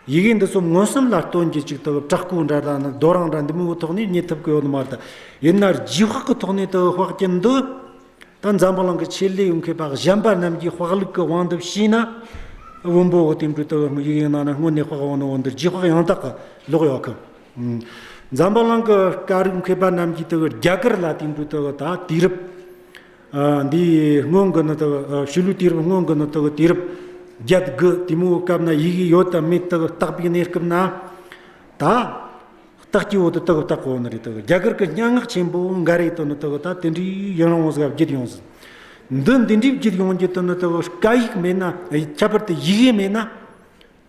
ཡི་གེ་འདི་ཚོ་མངོན་སུམ་ལ་སྟོན་གྱི་ཅིག་དག་བྲག་སྐུ་འདྲ་དང་ནི་རྡོ་རང་འདྲ་འདི་མི་བོ་ཐོག་ནས་རྙེད་ཐུབ་ཀི་ཡོད་མ་རེད། ཡིན་ན་རྗེས་དཔག་གི་ཐོག་ནས་དུ་དཔག་རྐྱེན་འདི་ད་འཛམ་བུ་གླིང་གི་ཆེད་ལས་ཡོད་མཁན་པ་གཞན་པ་རྣམས་ཀྱིས་དཔག་ལུགས་ཀི་དབང་འདི་ཤེས་ན། བོན་པོ་བོ་དེ་འདྲའི་དུ་ཡི་གེ་ནང་ནས་སྔོན་ནས་དཔག་དབང་ནི་བོ་འདི་རྗེས་དཔག་ཡང་དག་གི་ལོག་ཡོད་ཀི། འཛམ་བུ་གླིང་གི་སྐད་རིགས་མཁས་པ་རྣམས་ཀྱིས་དུ་རྒྱ་གར་ལ་དེ་འདྲའི་དུ་ད་དུས་རབས། འདི་སྔོན་གྱི་ནི་དག་ཤུལ་ལུས་དུས་རབས་སྔོན་གྱི་ནི་དག་དུས་རབས་བརྒྱད་དགུ་དེ་མོའི་སྐབས་ན་ཡིག་ཡོད་དམ་མེད་དག་བརྟག་པའི་གནས་སྐབས་ན། ད་བརྟག་གྱི་འོག་ཏུ་དག་བརྟག་གོ་ནི་རེད་དག་རྒྱ་གར་གྱི་སྙན་ངག་ཆེན་པོ་འགའ་རེ་དུ་ནི་དག་ད་དེ་འདྲའི་ཡུན་རིང་བོ་ཟིག་བརྒྱུད་ཡོང་ཟིན། འདི་འདི་འདྲའི་བརྒྱུད་ཡོང་རྒྱུ་དུ་ནི་དག་བཀའ་ཡིག་མེད་ན་ཁྱད་པར་དུ་ཡིག་ཡིག་མེད་ན།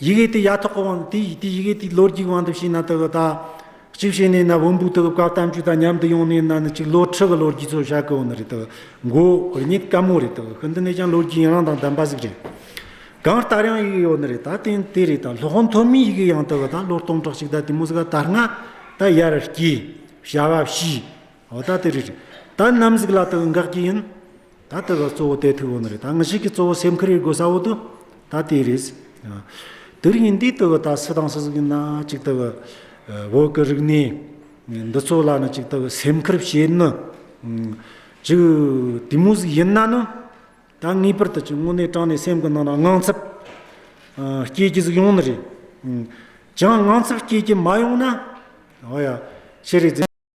ཡི་གེ་དེ་ཡ་ཐོག་གི་དབང་དེ་དེ་ཡི་གེ་དེ་ལོ་རྒྱུས་ཀྱི་དབང་དུ་བྱས་ན་དགག་དང། གཅིག་བྱས་ནས་ན་བོན་པོའི་དགག་བཀའ་གཏམ་རྒྱུད་དང་མཉམ་དུ་ཡོང་ནས་ན་ནི་གཅིག་ལོ་ཁྲི་གི་ལོ་རྒྱུས་ཚོ་བཞག་གི་འོ་ན་རེད་དགག་མགོ་རིག་གནས་དཀའ་མོ་རེད་དགག་གི་འདི་ནས་ཀྱང་ལོ་རྒྱུས་ཡང་རང་དང་ལྡན་པ་ཟིག་རེད། གང་ལྟར་ཡང་ཡི་གེ་ཡོད་ནི་རེད་ད་དེ་དེ་རེད་ད་ལྷོ་ཁང་མཐོ་དམན་ཡི་གེ་ཡང་དགག་ད་ལོ་སྟོང་ཕྲག་གཅིག་ད་དེ་མོ་ཟིག་ག་དར་ལྔ་ད་ཡར་སྐྱེས་བྱ་བ་བྱས་འོ་ད་དེ་རེད། ད་ནམ་ཟིག་ལ་དགག་འགག་གི་ཡིན། ད་ལྟ་བར་གཙོ་བོ་དེ་ཐུགས་དབང་རེད་ད་ངས་ཤིག་གི་གཙོ་བོ་སེམས་ཁུར་ཡོད་དགོས་ས་འོ་དོ་ད་དེ་རེད། དེར་ཡིན་དུས་ལྟ་བུ་ད་སུ་དང་སུ་ཟིག་ཡིན་ན་ཅིག་ལྟ་བུ་བོད་ཀྱི་རིག་གནས་འདི་ཚོ་ལ་ནི་ཅིག་ལྟ་བུ་སེམས་ཁུར་བྱེད་ནི་ཅིག་དུས་མོ་ཟིག་ཡིན་ན་ནི་ད་ངེས་པར་དུ་ཅིག་དངོས་གནས་དྲང་ནས་སེམས་ཀྱི་ནང་ན་དངངས་འཚབ་སྐྱེས་རྒྱུ་ཟིག་ཡོང་ནི་རེད། ཅང་དངངས་འཚབ་སྐྱེས་རྒྱུ་མ་ཡོང་ན་ཨོ་ཡ་ཤེས་རིག་འཛིན།